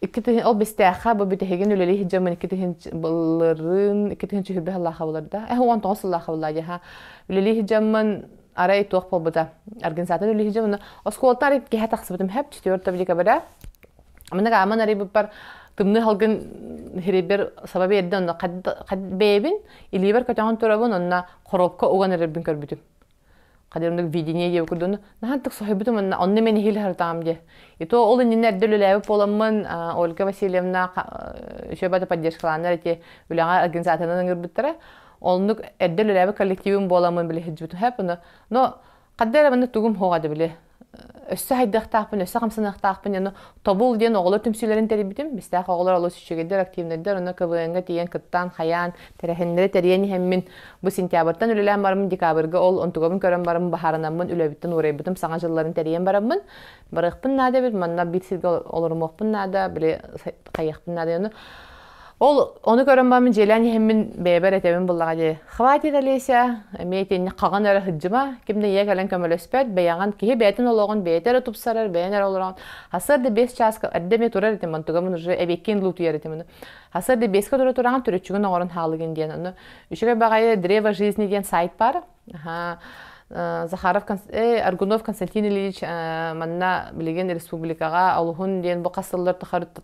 Икки түһүн, ол бистээхэ, бу бүтэһигин үлэлии сылдьаммын икки түһүн былырын, икки түһүн сүһүрбэ сыллаха былыр да, э, он тоҕус сыллаха былла дьаха. Үлэлии сылдьаммын арай туох буолбута. Организатын үлэлии сылдьаммын, оскуолтан арай киһэ тахсыбытым хап четвёртого декабря. Аманак аман арай буппар тымны халгын хирибер саба берден онно қад бэйбин илиибэр көтөҕөн турабын онна коробка уган эрербин көрбүтүм Хадьын оннук видение диэбиккэ дуу, наһан тык соһуйбутум онна онно мен иһилэ сыртаам диэ. И то ол иннинэ эрдэ үлэлээбит буоламмын Ольга Васильевна учебата поддержкалааннар эти үлэҕэ организаторынан ыҥырбыттара. Оннук эрдэ үлэлээбит коллективым буоламмын билэ сылдьыбытым. Но хадда эрэ манна тугум хоҕа да били өссө хайдыахтаахпын, өссө хамсаныахтаахпын диэн тобул диэн оҕолор түмсүүлэрин тэрийбитим. Бистээх оҕолор олус үчүгэйдэр, активнайдар, онно КВН-га тиийэн кыттаан, хайаан, тэрээһиннэри тэрийэн иһэммин, бу сентябрьтан үлэлээн бараммын, декабрьга ол онтугабын көрөн бараммын, баһаарынаммын, үлэбиттэн уурайбытым, саҥа дьылларын тэрийэн бараммын, барыахпын наада эбит, манна биир сиргэ олорумуохпун наада, били хайыахпын наада. Ол ону көрөн бармын дьиэлээн иһэммин бэйэбэр этэбин буллаҕа дии. Хватит, Олеся, эмиэ итиэннэ хаҕан эрэ сылдьыма, ким да ийэ кэлэн көмөлөспөт, бэйэҕин киһи бэйэтин олоҕун бэйэтэ эрэ тупсарар, бэйэҥ эрэ олороҕун. Сарсыарда биэс чааска эрдэ эмиэ турар этим, онтугамын уже эбиэккиин луутуйар этим ону. Сарсыарда биэскэ тура тураҕын түрүччүгүн оҥорон хаалыгын диэн. Ону Үчүгэй баҕайы «Древо жизни» диэн сайт баар. Захаров Аргунов Константин Ильич манна билигин республикаҕа олуһун диэн бу хас сыллар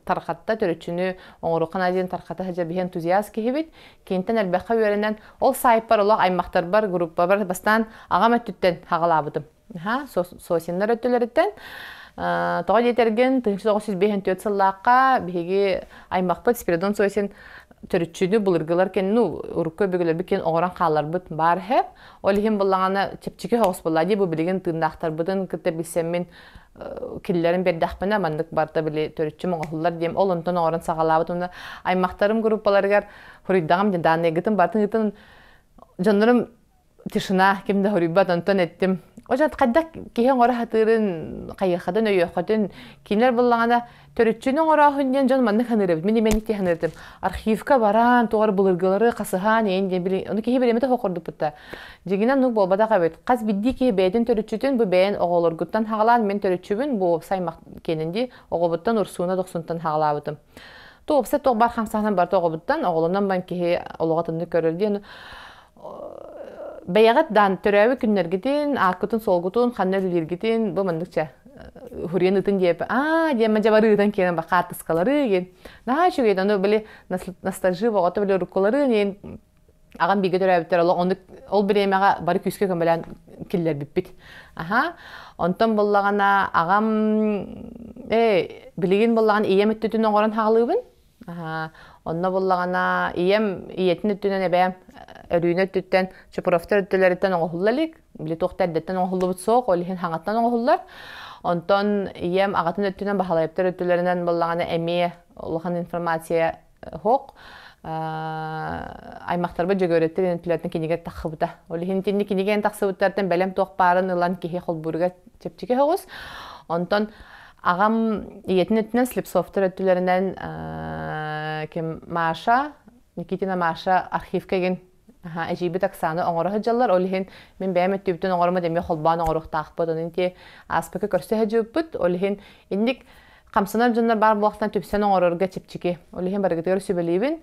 тархатта төрүччүнү оҥорукхан диэн тархата сылдьа биһэн тузиас киһибит киинтэн элбэххэ үөрэнэн ол саайпар олох аймахтарбар группабар бастаан аҕам өттүттэн хаҕалаабытым Аха, Сосиннар өттүлэриттэн тоҕо диэтэргин тыһыынча тоҕус жүз биэһин түөрт сыллаахха биһиги аймахпыт Спиридон Сосин төрүччүнү былыргылар кэнни ну урукку өбүгэлэрбит киэн оҕорон хааларбыт баар иһэ ол иһин быллаҕана чэпчэки соҕус буолла дии бу билигин тыыннаахтарбытын кытта билсэммин киллэрин бердахпына маннык барта били төрүччүм оҥоһуллар диэм ол онтон оҥорон саҕалаабыт уонна аймахтарым группаларыгар хуруйдаҕым данныйгытын бартын дьоннорум тишина ким да хоруйбат онтон эттим Ожат хайдах киһи оҥоро сатыырын хайыаххатын өйүөххүтүн кинилэр буллаҕына төрүччүнү оҥорооһун диэн дьон маннык саныырабыт мин имэник диэн саныыртым архивка бараан тоҕор былыргылары хасыһаан ийин диэн ону киһи билимит оһох ордуппута дьигинэ ну буолбатах эбит хас биирдии киһи бэйэтин төрүччүтүн бу бэйэн оҕолоргуттан хаалаан мин төрүччүбүн бу саймах киэнин дии оҕобуттан урсууна дохсунтан хаалаабытым туопса тоқ бар хамсаһынан барта оҕобуттан оҕолонон бан киһи олоҕо тымны көрөр диэн бэйэҕит даан төрөөбүт күннэргитин ааккытын-суолгутун ханна үлэлииргитин бу маннык чэ хуриан ытын диэпи аа диэн мадьабары ытан киэнен ба хаартыскалары диэн наһаа үчүгэй аны били ностальжи боҕото били уруккулары диэн агам биге төрөөбүттэр олох оннук ол бириэмэҕэ бары күүскэ көмөлөөн киллэрбиппит аха онтон буллаҕына агам э билигин буллаҕын ийэм өттүтүн оҥорон хаалыыбын Онно буллаҕына ийэм ийэтин өттүнэн эбээм өрүүнү өттүттэн Чупровтар өттүлэриттэн оҥоһулла илик. Били туох да эрдэттэн оҥоһуллубут суох, ол иһин хаҥаттан оҥоһуллар. Онтон ийэм аҕатын өттүнэн Баһылайаптар өттүлэринэн буллаҕына эмиэ улахан информация оһох. Аймахтарбыт Дьөгүөрэттэр интеллектин кинигэтэ тахсыбыта. Ол иһин итинник кинигэ тахсыбыттартан бэлэм туох баарын ылан киһи холбууруга чэпчэки соҕус. Онтон Аҕам ийэтин өттүнэн Слепцовтар өттүлэринэн ким Маша, Никитина Маша архивка игин эдьиийбит Оксана оҥоро сылдьаллар. Ол иһин мин бэйэм өттүбүтүн оҥорума демиэ холбоон оҥоруохтаахпыт. Онон ити ааспыкы көрсө сылдьыппыт. Ол иһин инник хамсанар дьоннор баар буолахтан түпсэн оҥорорго чэпчэки. Ол иһин барыгытыгар сүбэлиибин.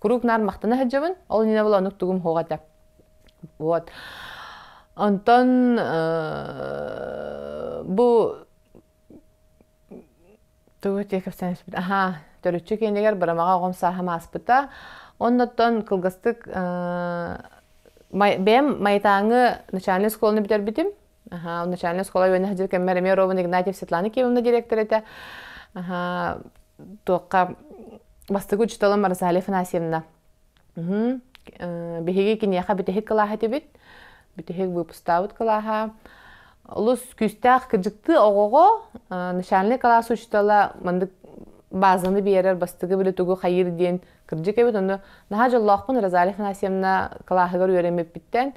куруук наар махтана сылдьабын ол иннинэ була оннук тугум хоҕ этэ вот онтон бу тугу тиэкэпсээн испит аhaa төрүччү киэнигэр барамаҕа оҕом сааһым ааспыта оннуттан кылгастык бэйэм маятааҥы начальнай оскуоланы бүтэрбитим Аха, начальная оскуола үөнэ садьыр кэммэр эмиэ Роман Игнатьев Светлана Киевовна директор этэ. Аха, туохха бастыгы учителым Марсали Афанасьевна. Уһу. Э, биһиги киниэхэ бүтэһик кылааһа этибит. Бүтэһик выпустаабыт кылааһа. Олус күүстээх кырдьыктыы оҕоҕо э, начальный кылаас учителя мандык базаны биэрэр бастыгы били тугу хайыыр диэн Кырдьык эбит онно наһаа дьоллоохпун Розалия Афанасьевна кылааһыгар үөрэммиппиттэн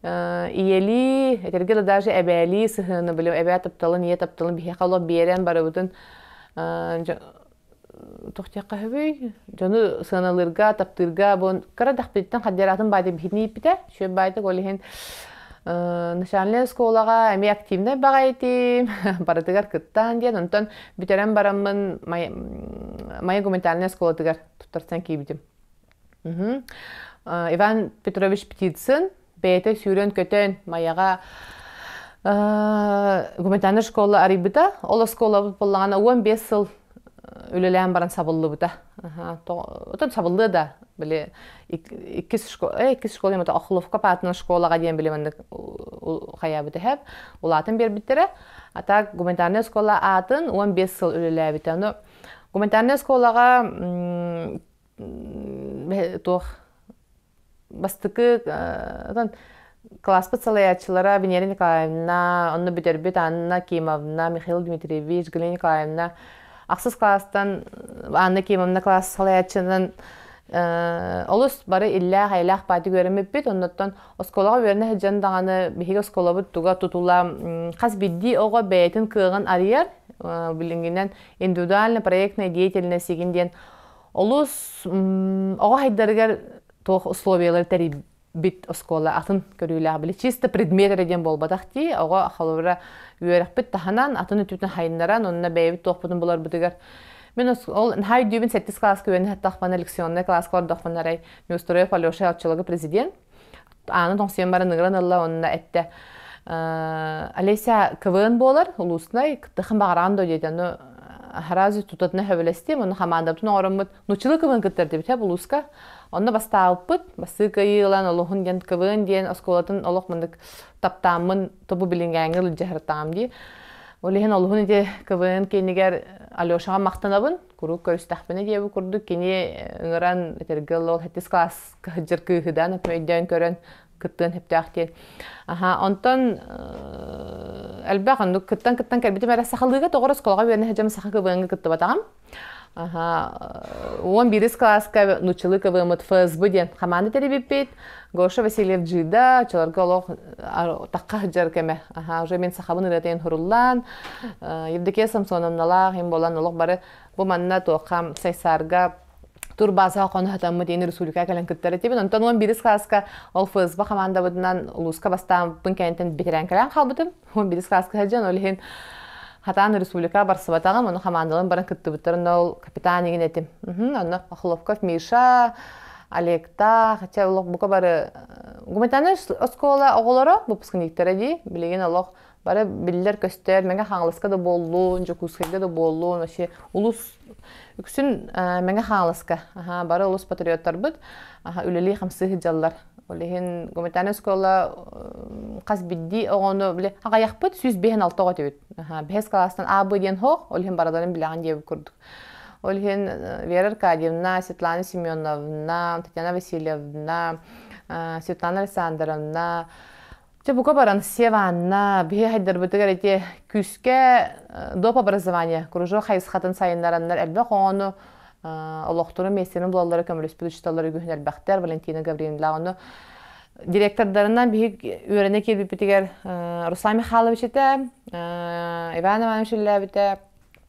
ийэлии, этэргэ да даже эбээлии сыһыаны били эбээ тапталын, ийэ тапталын биһиэхэ олох биэрэн барыбытын туох диэххэ сөбүй дьону сыаналыырга таптыырга бу кыра дахпититтэн хаддиараатын баайта биһитин ииппитэ шөп баайта ол иһин начальнай оскуолаҕа эмиэ активнай баҕа этим, барытыгар кыттаан диэн, онтон бүтэрэн бараммын Майя гуманитарнай оскуолатыгар туттарсан киирбитим. Иван Петрович Птицын бэйэтэ сүүрэн-көтөн Майяҕа гуманитарнай школа арыйбыта, ол оскуолабыт буоллаҕына уон биэс сыл үлэлээн баран сабыллыбыта отон сабыллыа да били иккис школа иккис школа эмото охловка паатынан школаҕа диэн били маннык хайаабыт эһэп улаатан биэрбиттэрэ а так гуманитарная школа аатын он бес сыл үлэлээбитэ но гуманитарная школаҕа туох бастакы кылааспыт салайааччылара Венера Николаевна, онно бүтэрбит Анна Кимовна, Михаил Дмитриевич, Галина Николаевна ахсыс кылаастан Анна Кимовна кылаас салайааччынан олус бары иллээх эйлээх паати үөрэммиппит оннуттан оскуолаҕа үөрэнэ сылдьан даҕаны биһиги оскуолабыт туга тутула хас биирдии оҕо бэйэтин кыаҕын арыйар билиҥҥинэн индивидуальный проектная деятельность диэн Олус оҕо хайдарыгар туох условиялар тэрийбит оскуола атын көрүүлээх били чисто предмет эрэ диэн буолбатах дии оҕо холобура үөрэхпит таһынан атын өттүтүн хайыннаран онно бэйэбит туохпутун буларбытыгар Мен ол наһаа өйдүүбүн сэттис кылааска үөрэнэ саттахпына лекционнай кылааска олордохпуна арай Неустроев Алеша оччолорго президент ааны тоҥсуйан баран ыгыран ылла уонна эттэ Олеся КВН буолар улуустунай кыттыхан баҕараан да диэтэ ну аһарази тутатына хөбөлөстүм уонна хамаандабытын оҥороммут нуччалыы квн кыттар дибитэ улууска онно бастаабыппыт бастыы кыайыы ылан олохун диэн квн диэн оскуолатын олох мындык таптааммын тобу билингээҥҥэ илдьэһэртаам дии ол иһин олуһун ити квн киинигэр Алешаҕа махтанабын куруук көрүстэхпинэ диэбит курдук кини ыҥыран этэргэ ол хэттис класс кыһадьыр кыыһыдаан өкмөйдөөн көрөн кыттыан сөптөөх диэн аха онтон элбэх оннук кыттан кыттан кэлбитим эрэ сахалыыга тоҕо осколоҕо үөрэнэ сылдьам саха квн-га кыттыбатаҕым аха уон бирис кылааска нучылы квмут фсб диэн хамаанда тэрийбиппит гоша васильев дьыыда оччолорго олох такка сыдьар кэмэ аха уже мин сахабын ырыатайын хуруллаан евдокия самсоновналаах им болан олох бары бу манна туохха сайсаарга турбаасаҕа хоно сатаммыт иин республика кэлэн кыттар этибин онтон уон бирис кылааска ол фсб командабытынан улууска бастааппын кэнниттэн битирэн кэлэн хаалбытым уон бирис кылааска сылдьан ол иһин хатаан республика барсыбатаҕым оны хамаандалан баран кыттыбыттар онно ол капитан игин этим онно пахловков миша Алекта, хотя олох бука бары э, гуманитарная оскола оголоро выпускниктара дии, билигин олох бары биллэр-көстөр, Мэҥэ Хаҥаласка да буоллун, Дьокуускайга да буоллун, вообще улус үксүн Мэҥэ Хаҥаласка бары улус патриоттарбыт үлэлии-хамсыы сылдьаллар. Ол иһин гуманитарнай оскуола хас бирдии оҕону били аҕайахпыт сүүс биһэн алта оҕо этибит. Бэһис кылаастан А б диэн хоох, ол иһин барыларын билэҕин диэбит курдук. Ол иһин Вера Аркадьевна, Светлана Семеновна, Татьяна Васильевна, Светлана Александровна, Чэ, бука баран, сев Анна, биһи хайдарбытыгар эти күүскэ э, доп образование, кружок хайысхатын сайыннараннар элбэх оҕону э, олохтору миэстэрин булаллары көмөлөспүт учууталлар үгүһүн элбэхтэр Валентина Гавриловна ону директордарынан биһи үөрэнэ киирбиппитигэр э, Руслан Михайлович этэ Иван Иванович үллээбитэ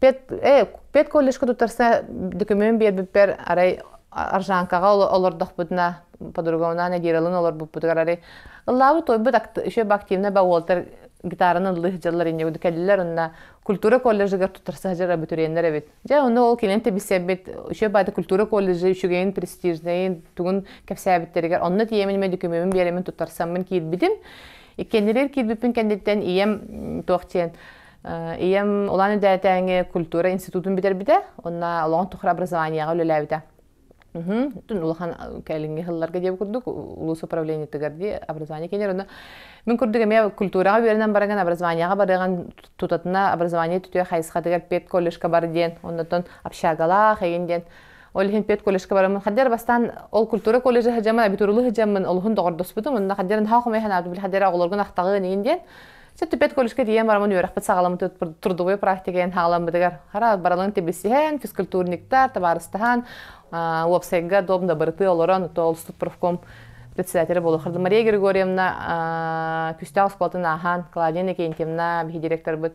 пет э пет колледжка туттарса документ биэрбиппэр арай аржанкаҕа олордохпутуна по-другому надиралын олорбуппутугар арай ыллаабыт тойбут еще бы активно ба уолтар гитараны ыллы сыдьаллар иннегуду кэллилэр онна культура колледжыгар туттарса сыдьар абитуриеннер эбит дьэ онно ол кинен тебиссэрбит еще баата культура колледжы үчүгэйин престижнэйин тугун кэпсээбиттэригэр онно тиэмин ме документин биэримин туттарсаммын киирбитим иккеннилэр киирбиппин кэнниттэн ийэм туох диэн Ийэм улаан үдээтээҥи культура институтун бүтэрбитэ, онно олоҕун тухары образованиеҕа үлэлээбитэ. Үһүн улахан кэлиҥҥи сылларга диэбит курдук улуус управлениетыгар дии образование киинигэр онно мин курдук эмиэ культураҕа үөрэнэн барыган образованиеҕа барыган тутатына образование түтүө хайысхатыгар педколледжка бар диэн оннотон общагалаах эгин диэн ол иһин педколледжка барамын хаддер бастаан ол культура колледжа сыдьамын абитурлу сыдьаммын олуһун доҕордоспутум онно хаддер наһаа хомой санаабын хаддер оҕолоргун ахтаҕын иин диэн Сөттүппэт колледжка тиийэн барамын үөрэхпит саҕаламмыт трудовой практика эн хааламмытыгар хара баралын тибисиһэн, физкультурниктар, табаарыстаһан, уопсайга дом дабырты олорон толстук профком председателя була хырды Мария Григорьевна күстээх оскуолатын аахан Клавдия Никентьевна биһи директорбыт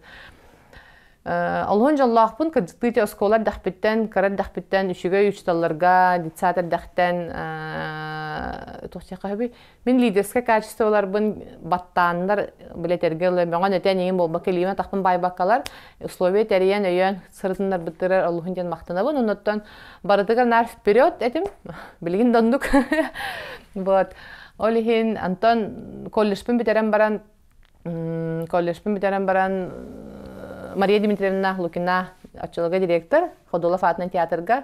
Олоһун дьоллоохпун, кырдьыктыыти оскуола эрдэхпиттэн, кыра эрдэхпиттэн, үчүгэй учууталларга, детсад эрдэхтэн мин лидерскай качестволарбын баттааннар билэтэргэ ылы бөҕөн этэн ийин буолбакка илиим атахпын баайбаккалар условия тэрийэн өйөөн сырытыннарбыттырар олуһун диэн махтанабын оннуттан барытыгар наар вперед этим билигин да оннук вот ол иһин антон колледжпын бүтэрэн баран колледжпын бүтэрэн баран Мария Дмитриевна Лукина оччолорго директор Ходулов аатынан театрга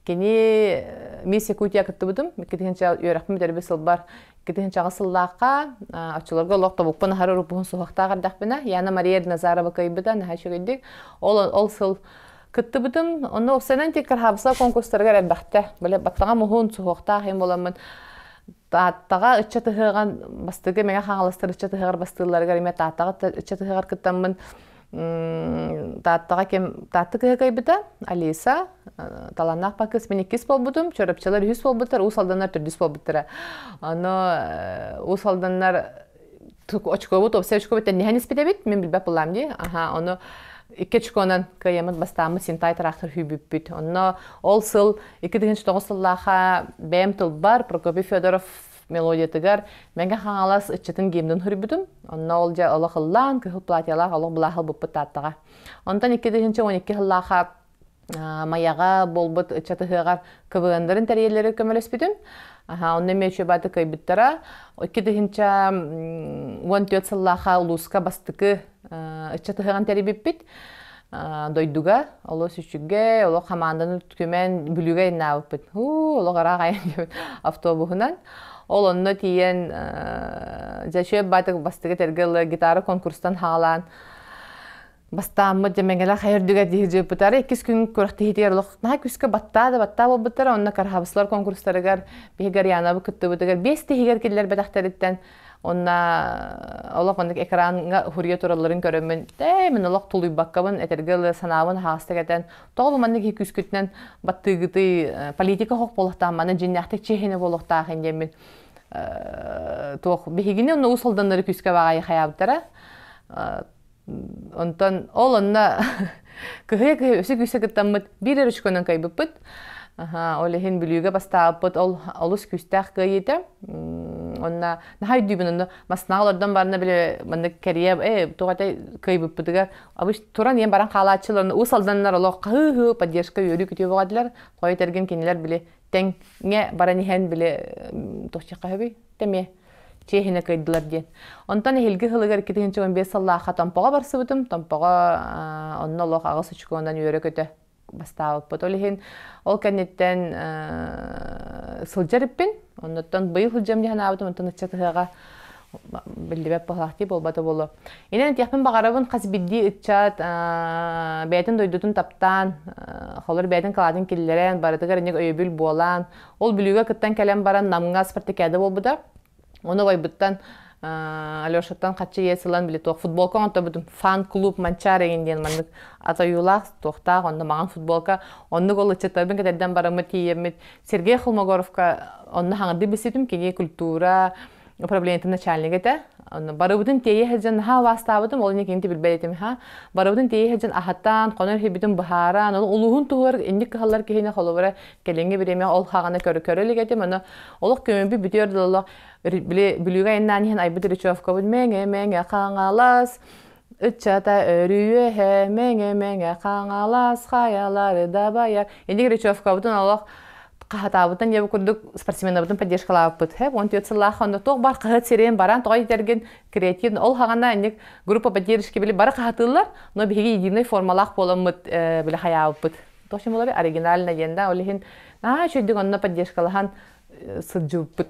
кини Мисс Якутия кыттыбытым иккитинчи үөрэхпин бүтэрбит сылбар иккитинчи сыллаахха оччолорго олох тобукпун аһар уруппуһун суһахтаах эрдэхпинэ Яна Мария Назарова кыйбыта наһаа үчүгэйдик ол ол сыл кыттыбытым онно уксанан тик кырхаабыса конкурстарыгар элбэхтэ быле баттаҕа муһун суһуохтаах им буламмын Тааттаҕа ыччат ыһыаҕын бастакы Мэҥэ Хаҥаластар ыччат ыһыаҕар бастыылларыгар эмиэ Тааттаҕа ыччат ыһыаҕар кыттаммын Тааттаҕа ким Таатта кыһа кыайбыта Алиса талааннаах пакыыс мин иккис буолбутум чорапчылар үһүс буолбуттар Уус Алданнар төрдүс буолбуттара ону Уус Алданнар очкобу туопсай очкобу тенниһэн испит эбит мин билбэт былаам дии аха ону икки очконан кыайаммыт бастааммыт синтай тыраахтар хүүбүппүт онно ол сыл икки тыһыынча тоҕус сыллаахха бэйэм тылбар Прокопий Федоров мелодиятыгар мэҥэ хаҥалас ыччатын гимнун хөрбүтүм онно ол дьэ олох ыллаан кыһыл платьялаах олох былааһыл буппут тааттаҕа онтон икки тыһыынча он икки сыллаахха Майаҕа буолбут ыччат ыһыаҕар КВН-дарын тэрийэллэрэ көмөлөспүтүм. Онно мүөчөбаты кыйбыттара. Икки тыһынча уон түөрт сыллаахха улууска бастыкы ыччат ыһыаҕын тэрийбиппит. Дойдуга, олус үчүгэй, олох хамаанданы түмэн бүлүүгэ айнаабыппыт. Олох араак айан автобуһунан. Ол онно тиийэн Зачет батык бастыкы тергелла гитара конкурстан хаалаан бастааммыт дьэмэҥэлэ хайырдыга дии дьыыппытары иккис күн күрэхтэһиитигэр олох наһаа күскэ баттаа да баттаа буолбуттара онно караһабыслар конкурстарыгар биһиги Арианабы кыттыбытыгар биэс тиһигэр киллэрбэтэхтэриттэн онно олох оннук экраанга уһуруйа туралларын көрөммүн ээ мин олох тулуйбаккабын этэргэ ылы санаабын хаһаастык этэн тоҕо бу маннык киһи күүскүтүнэн баттыыгытый политика хоһ буолуохтаах маны дьиннээхтик чиэһине буолуохтаахын диэммин туох биһигини онно уус алданнары күүскэ баҕайы хаябыттара Онтон ол онно кыһыйа кыһыйа үсү күүсэ кыттаммыт биир өрүчкөнөн кайбыппыт. Ол иһин Бүлүүгэ бастаабыппыт ол олус күүстээх кыайыыта. Онно наһаа өйдүүбүн онно массааҕа олордон барна били маннык кэрийэ ээ туох этэй кыайбыппытыгар обычно туран ийэм баран хаалааччылар уус алданнар олох хаһыы-һыы поддержка үөрүү күтүө бөҕөтүлэр. Хойут эргин кинилэр били тэҥҥэ баран иһэн били туохчиха сөбүй тэмиэ чиэһинэ кыайдылар диэн онтон эһилги сылыгар икки тыһыынча он биэс сыллаахха томпоҕо барсыбытым томпоҕо онно олох аҕыс очконан үөрэ-көтө бастаабыппыт ол иһин ол кэнниттэн сылдьар эппин оннуттан быйыл сылдьам дии санаабытым онтон ыччат ыһыаҕа биллибэт пахлахтыы буолбата буолуо. Инэн этиэхпин баҕарабын хас бирдии ыччат бэйэтин дойдутун таптаан, холор бэйэтин калаатын киллэрэн, барытыгар инник өйөбүл буолаан, ол бүлүүгэ кыттан кэлэн баран намҥа спартакиада буолбута. Ону ойбуттан Алешаттан хаччы иэс ылан били туох футболка оҥоторбутум фан клуб Манчаары эгин диэн маннык атайуулаах туохтаах онно маҕан футболка оннук ол ыччаттарбын кэтэрдэн бараммыт тиийэммит Сергей Холмогоровка онно хаҥырдыы билситим кини культура управлениетым начальнига этэ барыбытын тиэйэ сылдьан наһаа убаастаабытым ол иннинэ кинини билбэт этим ха барыбытын тиэйэ сылдьан аһатан хонор иһибитин быһааран ону улууһун туһугар инник кыһаллар киһини холобура кэлиҥҥи бириэмэ ол хаҕаны көрө көрө илик этим аны олох көмөбү бүтүөр дылы били бүлүүгэ айаннаан иһэн айбыт речевкабыт мэҥэ мэҥэ хаҥалас Ыччата өрүйүөһэ мэҥэ мэҥэ хаҥалас хайалары дабайар. Инди Грачевкабытын олох хаһатаабытын диэбит курдук спортсменабытын поддержкалаабыппыт. Хэп он түөрт сыллаах онно туох бар хаһыат сирин баран тоҕо итэргин креатин ол хаҕана инник группа поддержки били бары хаһатыыллар, но биһиги единой формалаах буоламмыт били хайаабыппыт. Точин булаби оригинально диэн да ол иһин наа үчүйдүк онно поддержкалаһан сылдьыбыппыт.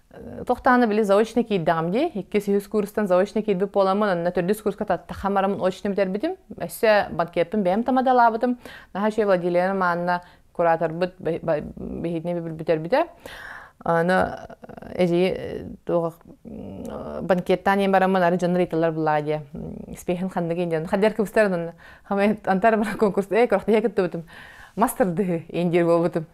Тохтааны били заочно киирдэҕим дии. Иккис үһүс курстан заочно киирбит буоламмын, онно төрдүс курска тахха марамын очно бүтэрбитим. Өссө банкетпын бэйэм тамадалаабытым. Наһаа үчүгэй Владилена Манна кураторбут биһитини бүтэрбитэ. Аны эдьиий туох банкеттаан ийэн бараммын ары дьоннор ыйтылар булаа диэ спейхин ханнык индиэн хаддер кыбыстар антар конкурс э кырахтайа кыттыбытым мастырдыһы индир буолбутум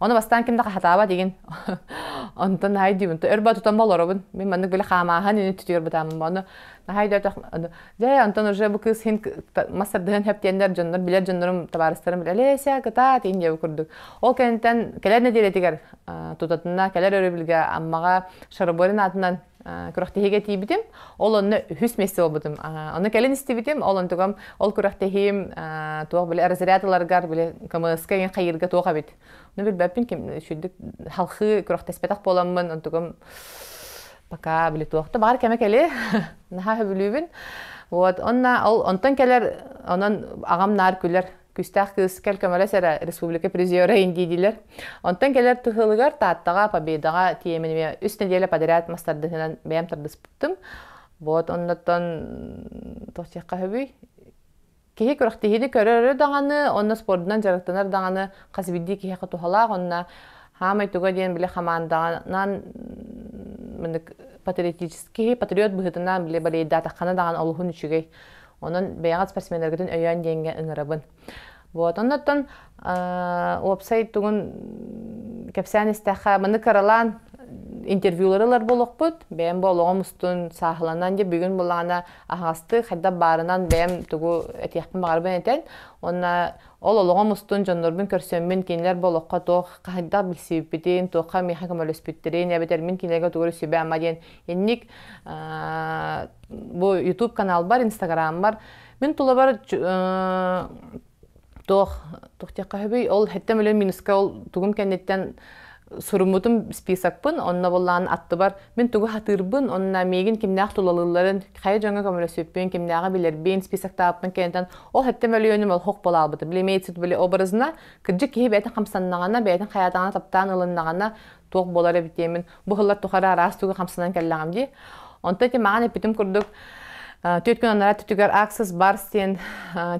Оны бастаан ким да хаһатаабат игин. Онтон наһай диибин, өр батутан болоробун. Мин маннык били хаамаахан ини түтүөр бытаамын. Ону наһай да өтөх дьэ онтон уже бу кыыс хин массардыһын хэптиэннэр дьоннор билэр дьоннорум табаарыстарым билэ Леся кыта тиин диэбу курдук. Ол кэнниттэн кэлэр нэдиэлэтигэр тутатына кэлэр өрөбүлгэ Аммаҕа Шароборин аатынан күрэхтэһиигэ тиийбитим. Ол онно үһүс месте буолбутум. Ону кэлин истибитим. Ол онтугам ол күрэхтэһиим туох били разрядыларгар били КМС-ка иҥин хайыырга туох эбит. Ону билбэппин ким сүрдүк халхыы күрэхтэспэтэх буоламмын онтугам пока били туохта баар кэмэ кэли наһаа сөбүлүүбүн. Вот онна ол онтон кэлэр онон агам наар күлэр күүстээх кыыскал көмөлөс эрэ республика призера индиидилер онтон келер тыһылыгар тааттаҕа победаҕа тиэмэниэ үс нэдиэлэ подряд мастардыһынан бэйэм тардыспыттым вот оннуттан тохсиахха хөбүй киһи күрэхтиһиини көрөрө даҕаны онно спордунан дьарыктанар даҕаны хас биирдии киһиэхэ туһалаах онно хаамай туга диэн били хамаандаҕынан патриотический патриот быһытынан били болейдаатаххана даҕан олуһун үчүгэй Онон бэйэҕит спортсмендаргытын өйөөн диэҥҥэ ыҥырабын. Вот, оннуттан уопсай тугун кэпсээн истэххэ, маны кыралаан интервьюлары ылар буолуохпут. Бэйэм бу олоҕум устун сааһыланан дьэ бүгүн булаана аһаҕастык хайдах баарынан бэйэм тугу этиэхпин баҕарабын этэн уонна ол олоҕум устун дьоннорбун көрсөммүн кинилэр олоххо туох хайдах билсибиппитин, туохха миэхэ көмөлөспүттэрин эбэтэр мин кинилэргэ тугу сүбэ-ама диэн Инник бу YouTube каналбар, Инстаграмбар мин тулабар туох туох диэххэ сөбүй ол хэттем үлэ минуска ол тугун кэнниттэн суруммутум списокпын онно боллаан аттыбар мин тугу хатыырбын онна миигин кимнээх тулалыылларын хайа дьоҥҥо көмөлөсүппүн кимнээҕи билэрбин список тааппын кэннитэн ол хэттем өлүөнүм ол хох буолаабыта били имеется были образына кырдьык киһи бэйэтин хамсаннаҕына бэйэтин хайаатаҕына таптаан ылыннаҕына туох буолар эбитиэмин быһыллар тухары араас тугу хамсанан кэллэҕим дии. Онто ити маҕан эппитим курдук төрт күн анараа түтүгэр Access Bars диэн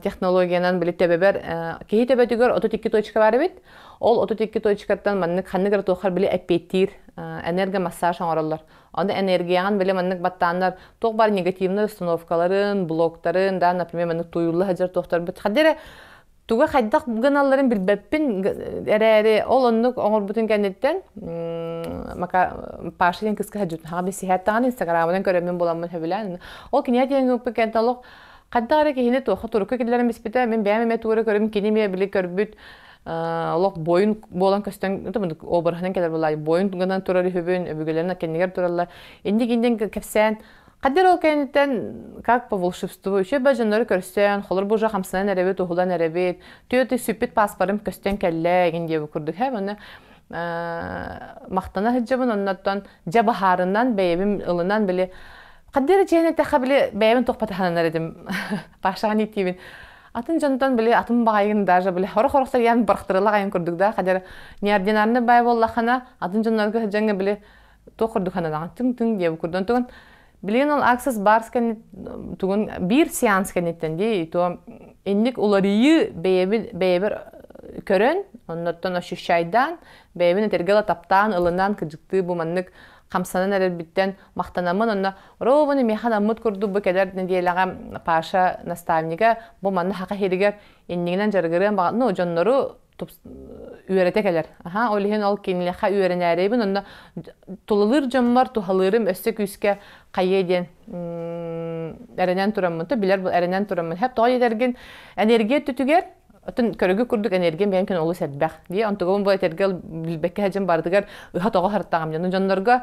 технологиянан били төбөбөр киһи төбөтүгэр отут икки точка бар эбит. Ол отут икки точкаттан маннык ханнык эрэ туохар били эппиэттиир энергомассаж оҥороллор. Аны энергияҕын били маннык баттааннар туох бар негативнай установкаларын, блоктарын, да, например, маннык туйулла сылдьар туохтарбыт хаддыра туга хайдах гыналларын билбэппин эрээри ол оннук оҥорбутун кэнниттэн мака Паша диэн кыска сылдьыбытым хаҕа билсиһээтэҕин инстаграмынан көрөммүн буоламмын сөбүлээн ол кинигэ диэн ыппыт кэнтэ олох хайдах эрэ киһини туохха турукка киллэрэн биспитэ мин бэйэм эмэ туора көрүм кини эмиэ били көрбүт олох бойун буолан көстөн обырыһынан кэлэр буолла бойун гынан турар үһүбүн өбүгэлэрин кэннигэр тураллар инник иннин кэпсээн Хадыр ол кэнниттэн как по волшебству үчүгэй дьоннору көрсөн, холор бужа хамсанан эрэбит, уһулан эрэбит, түөтү сүппүт пааспарым көстөн кэллэ ин диэбит курдук һэ оны махтана сылдьабын оннортон дьэ баһаарынан бэйэбим ылынан били хадыр дьиэн этэхэ били бэйэбин тухпатаһананар этим пашаҕан иттиибин атын дьонтон били атын баайгын даже били хорох-хорох сарыйан барахтырыла айын курдук да хадыр неординарный бай боллахана атын дьоннорго сыдьаҥы били туох курдук хананаҕын түҥ түҥ диэбу курдук тугун билигин ол аксас барс кэннит тугун биир сеанс кэнниттэн дии то инник уларыйыы бэйэбил бэйэбир көрөн оннортон ощущайдаан бэйэбин этэргэл таптаан ылынан кыдьыктыы бу маннык хамсанан эрэрбиттэн махтанаммын онно робуны механаммыт курдук бу кэлэр неделяга паша наставнига бу манна хака хиригер иннигинен жаргырыан баҕа ну дьоннору үөрэтэ кэлэр. Аха, ол иһин ол кинилэхэ үөрэнээрэйбин, онно тулалыыр дьоммор туһалыырым өссө күүскэ хайыа диэн эрэнэн тураммын, то билэр эрэнэн тураммын, хэ тоой этэргин энергия түтүгэр отун көрөгү курдук энергия миэн күн олус элбэх. Дии онтугун бу этэргэ билбекке хажым барытыгар ыха тоҕо хартаҕам дьону дьоннорго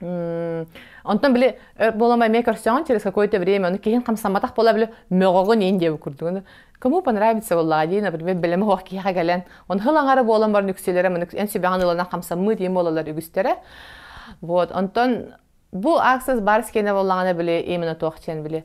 Онтон били буолама эмиэ көрсөҕүн через какое-то время, ну киһин хамсамматах буола били мөҕөҕүн иин диэбит курдугун. Кому понравится была дии, например, белем оһох киһиэхэ кэлэн, он хыл аңара буолан баран үксүлэрэ маны эн сүбэҕин ыланах хамсаммыт диэн буолалар үгүстэрэ. Вот, онтон бу аксас бар скена боллаҕына били именно туох диэн били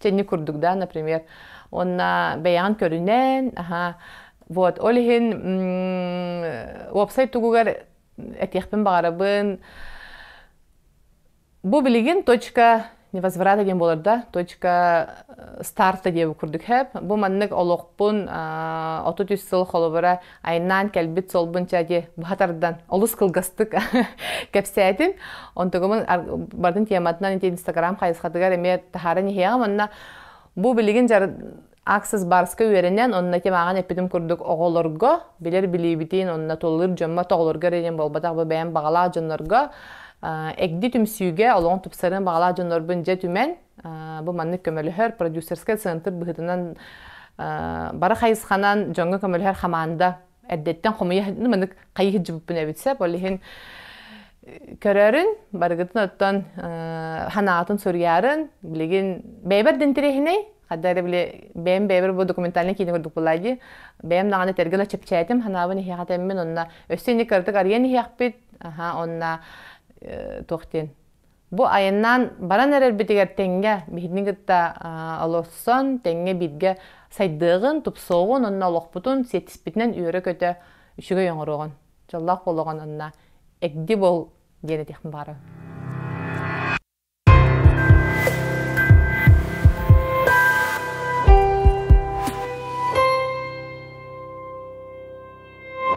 Тэнни курдук да, например, онна бэйэҕин көрүнэн, аха, вот, ол иһин уопсай тугугар этиэхпин баҕарабын, бу билигин точка невозврата диэн буолар да, точка э, старта диэбит курдук хэп. Бу маннык олохпун отут үс сыл холобура айаннаан кэлбит солбун чади быһа тардан олус кылгастык кэпсээтим онтугумун бардын тематынан ити инстаграм хайысхатыгар эмиэ таһааран иһиэҕим онно бу билигин жар аксас барска үөрэнэн онно ити мааҕан эппитим курдук оҕолорго билэр билиибитин онно толлур дьоммо тоҕолорго эринен буолбатах бу бэйэм баҕалаах дьоннорго эгди түмсүүгэ олоҕун тупсарын баҕалаах дьоннорбун дьэ түмэн Бу маннык көмөлөһөр продюсерскай центр быһытынан бара хайысханан дьоҥҥо көмөлөһөр хамаанда эрдэттэн хомуйа маннык хайыһы дьыбыппын эбитсэ ол иһин көрөрүн барыгытын оттон ханаатын суруйарын билигин бэйбэр да интэриэһинэй хадда эрэ били бэйэм бэйэбэр бу документальный киинэ курдук букулайди бэйэм даҕаны этэргэ да чэпчээтим ханаабын иһиэхэ тэммин онно өссө инник кыратык арыйан иһиэхпит аха онно туох диэн Бу айаннаан баран эрэрбитигэр тэҥҥэ биһигини кытта олорсон, тэҥҥэ бииргэ сайдыаҕын, тупсуоҕун, онно олохпутун сиэттиспитинэн үөрэ-көтө үчүгэй оҥоруоҕун. Дьоллоох буолуоҕун онно эгди бол диэн этиэхпин баҕарабын.